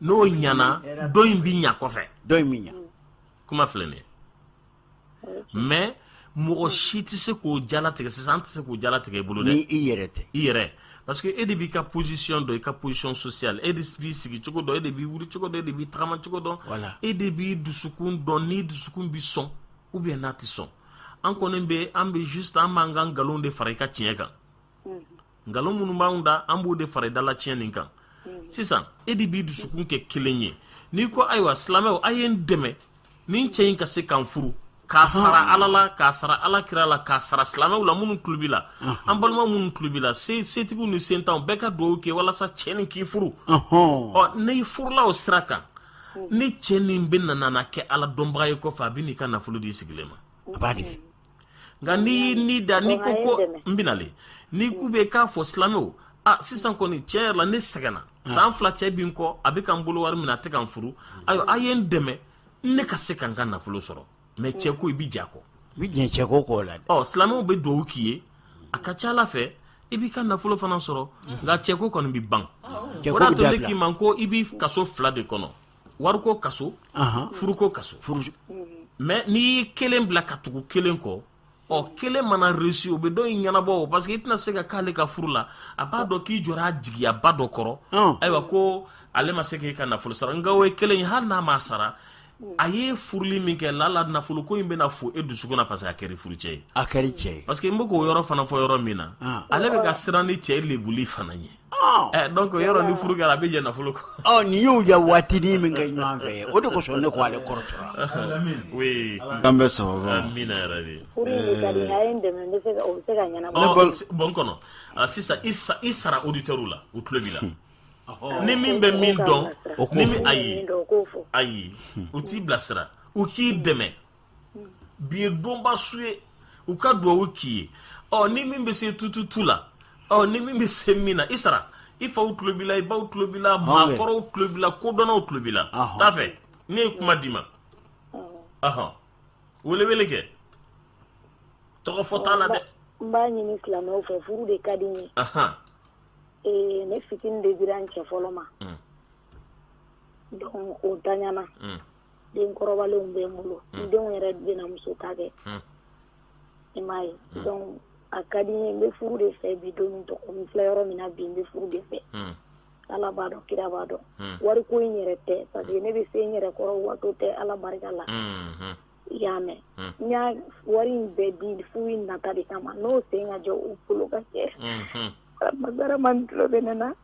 Speaker 2: n'o ɲana dɔ in bɛ ɲa kɔfɛ dɔ in bɛ
Speaker 6: ɲa kuma filɛ nin
Speaker 2: ye mais mɔgɔ si tɛ se k'o jalatigɛ sisan an tɛ se k'o jalatigɛ i bolo dɛ ni i yɛrɛ tɛ i yɛrɛ
Speaker 6: parce que e
Speaker 2: de b'i ka position dɔn i ka position sociale e de b'i sigi cogo dɔn e de b'i wuli cogo dɔn e de b'i tagama cogo dɔn voilà e de b'i dusukun dɔn n'i dusukun bɛ sɔn ou bien n'a tɛ sɔn an kɔni bɛ an bɛ juste an b'an ka nkalon de fara i ka tiɲɛ kan nkalon minnu b'anw da an b'o de fara i dala tiɲɛ nin kan mhm. sisan e de b'i dusukun kɛ kelen ye n'i ko ayiwa silamɛw a ye n dɛmɛ nin cɛ in ka se ka n furu k'a sara ala la k'a sara ala kira la k'a sara silamɛw la minnu tulo b'i la an balima minnu tulo b'i la setigiw ni sentanw bɛɛ ka dugawu kɛ walasa cɛ nin k'i furu ɔ n'i furula o sira kan ni cɛ nin bɛna na kɛ ala dɔnbaga ye kɔfɛ a bɛ n'i ka nafolo d'i sigilen ma a b'a di
Speaker 6: nka
Speaker 2: n'i y'i ni da n'i ko ko n bɛna le n'i k'u bɛ k'a fɔ silamɛw a sisan kɔni tiɲɛ yɛrɛ la ne sɛgɛnna san fila cɛ bi n kɔ a bɛ ka n bolo wari minɛ a tɛ ka n furu ayiwa a ye n dɛmɛ ne ka se ka n ka nafolo sɔrɔ mais cɛ ko i bɛ j'a kɔ i bɛ jɛ cɛ ko
Speaker 6: kɔ la ɔ silamɛw bɛ dugawu
Speaker 2: k'i ye a ka ca ala fɛ i b'i ka nafolo fana sɔrɔ nka cɛko kɔni bɛ ban o de y'a to ne k'i ma ko i b'i kaso fila de kɔnɔ wariko kaso furuko kaso mais n'i ye kelen bila ka tugu kelen kɔ ɔ kelen mana réussi o bɛ dɔ in ɲɛnabɔ o parce que i tɛna se ka k'ale ka furu la a b'a dɔn k'i jɔra a jigiyaba dɔ kɔrɔ ayiwa ko ale ma se k'i ka nafolo sara nka o ye kelen ye hali n'a ma sara a ye furuli min kɛ lala nafolo ko in bɛna fo e dusukun na parce que a kɛra furu cɛ ye a kɛra cɛ ye parce que n
Speaker 6: bɛ k'o yɔrɔ fana fɔ
Speaker 2: yɔrɔ min na ale bɛ ka siran nin cɛ lebuli fana ye donc yɔrɔ ni furu kɛra a bɛ jɛ nafolo kɔ ɔ nin y'u ya
Speaker 6: waatinin min kɛ ɲɔgɔn fɛ o de kosɔn ne k'ale kɔrɔtɔra oui an
Speaker 2: bɛ sababu
Speaker 7: amina yɛrɛ de furu
Speaker 10: in ka di a ye n dɛmɛ n bɛ se ka o bɛ se ka ɲɛnabɔ bon
Speaker 2: kɔnɔ sisan i sara auditeurs la u tulo b'i la ni min bɛ min dɔn ni min ayi ayi u t'i bilasira u k'i dɛmɛ bi ye donba su ye u ka dugawu k'i ye ɔ ni min bɛ se tututu la ɔ ni min bɛ se min na i sara i faw tulo b'i la i baw tulo b'i la maakɔrɔw tulo b'i la kodɔnnaw tulo b'i la t'a fɛ ne ye kuma d'i ma ɔhɔn welewele kɛ tɔgɔ fɔ t'a la dɛ n b'a ɲini
Speaker 10: silamɛw fɛ furu de ka di n ye ee ne fitini de dira n cɛ fɔlɔ ma donc o daɲana den kɔrɔbalenw bɛ n bolo n denw yɛrɛ bɛna muso ta kɛ i m'a ye donc a ka di n ye n bɛ furu de fɛ bi don min tɔgɔ n filɛ yɔrɔ min na bi n bɛ furu de fɛ ala b'a dɔn kira b'a dɔn wari ko in yɛrɛ tɛ parce que ne bɛ se n yɛrɛ kɔrɔ waso tɛ ala barika la i y'a mɛn n y'a wari in bɛɛ di furu in nata de kama n'o sen ka jɔ u bolo ka cɛ ma tulo bɛ ne na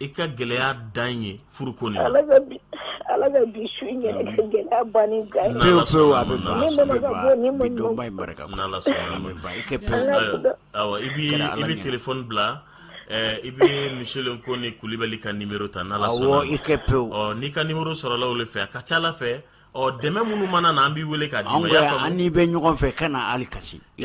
Speaker 2: i ka gɛlɛya dan ye furu
Speaker 10: ko la ala
Speaker 6: ka
Speaker 10: bi su gɛlɛya
Speaker 6: ban
Speaker 2: ni
Speaker 6: ga
Speaker 2: i bɛ téléphone bila i bɛ misilen ko ni kulibali ka numéro ta n'ala sɔnna i kɛ
Speaker 6: pewu n'i ka numéro sɔrɔla
Speaker 2: o de fɛ a ka ca ala fɛ ɔ dɛmɛ minnu mana na an b'i weele k'a d'i ma an n'i bɛ ɲɔgɔn
Speaker 6: fɛ kana hali kasi i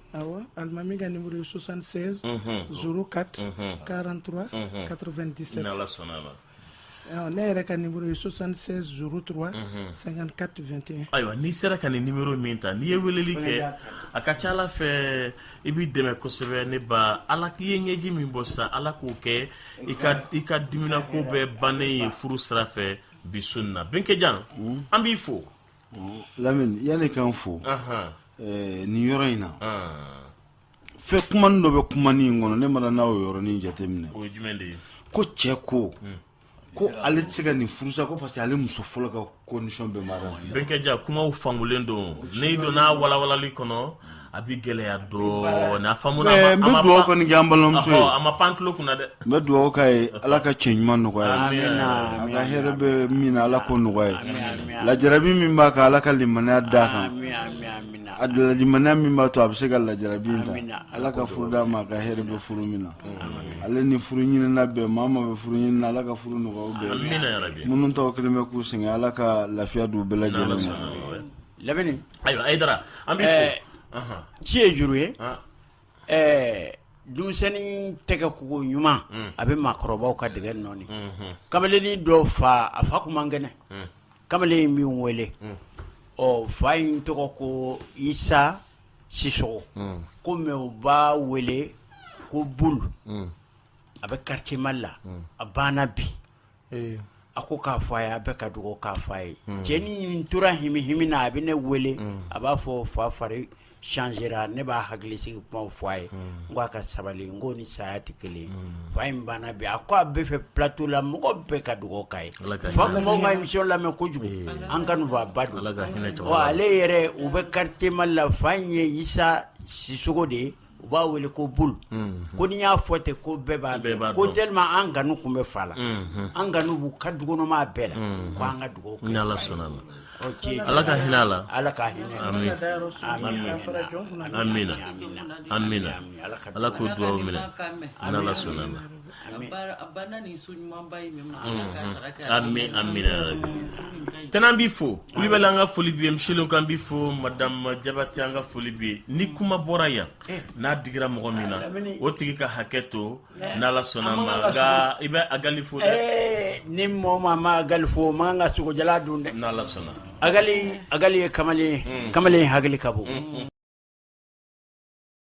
Speaker 3: Awa alimami ka numéro ye 76 unhun 04 unhun 43 unhun 97 n'Ala sɔnn'a
Speaker 2: ma ɔ ne
Speaker 3: yɛrɛ ka numéro ye 76 03 unhun 54 21 ayiwa n'i sera ka nin
Speaker 2: numéro min ta n'i ye weleli kɛ a ka ca Ala fɛ i b'i dɛmɛ kosɛbɛ ne ba Ala k'i ye ɲɛji min bɔ sisan Ala k'o kɛ i ka i ka diminako bɛɛ bannen ye furu sira fɛ bi su in na Benkejan an b'i fo
Speaker 7: lamini yanni k'an fo nin yɔrɔ in na fɛn kumani dɔ bɛ kumani in kɔnɔ ne mana na o yɔrɔnin jateminɛ
Speaker 2: ko cɛ
Speaker 7: ko hmm. ko ale tɛ se ka nin furusa ko parce que ale muso fɔlɔ ka condition bɛ mara Benkejan kumaw
Speaker 2: fangulen don n'i donna walawalali kɔnɔ a bɛ gɛlɛya dɔɔnin a faamu na a ma pan- n bɛ dugawu kɔni kɛ
Speaker 7: an balimamuso ye Ɔhɔ, a ma pan tulo kunna
Speaker 2: dɛ n bɛ dugawu k'a
Speaker 7: ye ala ka cɛ ɲuman nɔgɔya a ye. Amina, a ka amina, hɛrɛ bɛ min na ala k'o nɔgɔya a ye amina, amina. lajarabi min b'a kan ala ka limaniya d'a kan Amina, amina, amina. a limaniya min b'a to a bɛ se ka lajarabi in ta Amina. ala ka furu d'a ma a ka hɛrɛ bɛ furu min na ale ni furu ɲinina bɛɛ maa maa bɛ furu ɲinina ala ka furu nɔgɔya u bɛɛ ye. amina yarabi minnu taw kɛlen bɛ k'u sɛgɛn ala ka lafiya d'u bɛɛ lajɛlen ma
Speaker 6: lamini ayiwa Ayidara
Speaker 2: an bɛ ci ye
Speaker 6: juru ye ɛɛ denmisɛnnin tɛgɛ ko koɲuman mm. a bɛ maakɔrɔbaw ka dɛgɛ nɔɔni mm-hmm. kamalennin dɔ fa a fa tun man kɛnɛ mm. kamalen in min wele mm. ɔ fa in tɔgɔ ko isa sisɔkɔ ko mais u b'a wele ko bulu a bɛ quartier mali la a banna bi a ko k'a fɔ a ye a bɛɛ ka dugawu k'a fa ye cɛnin tora himihimi na a bɛ ne wele a b'a fɔ fa fari changera ne b'a hakili sigi kuma fɔ a ye n ko a ka sabali n ko ni saya tɛ kelen fa in banna bi a ko a bɛ fɛ plateau la mɔgɔ bɛɛ ka dugawu k'a ye fa tun b'an ka émission lamɛn kojugu an kanubaaba don ale yɛrɛ u bɛ quartier mali la fa in ye isa sisɔkɔ de ye u b'a wele ko bulu ko n'i y'a fɔ ten ko bɛɛ b'a dɔn ko tellement an kanu tun bɛ fa la an kanu b'u ka dukɔnɔmaa bɛɛ la ko an ka dugawu kɛ ni ala sɔnna ma
Speaker 2: ala ka hinɛ a la ala
Speaker 6: ka
Speaker 2: hinɛ amina amina ala k'o dugawu minɛ n'ala sɔnna ma Tɛnɛn b'i fo Kulibali an ka foli b'i ye Misɛli k'an b'i fo madamu Jabatɛ an ka foli b'i ye ni kuma bɔra yan n'a digira mɔgɔ min na o tigi ka hakɛ to n'Ala sɔnna ma nka i bɛ Agali fo ni
Speaker 6: mɔgɔ ma Agali fo ma ka sogo jalan dun dɛ
Speaker 2: n'Ala sɔnna
Speaker 6: Agali Agali ye kamalen
Speaker 2: kamalen
Speaker 6: hakili ka bon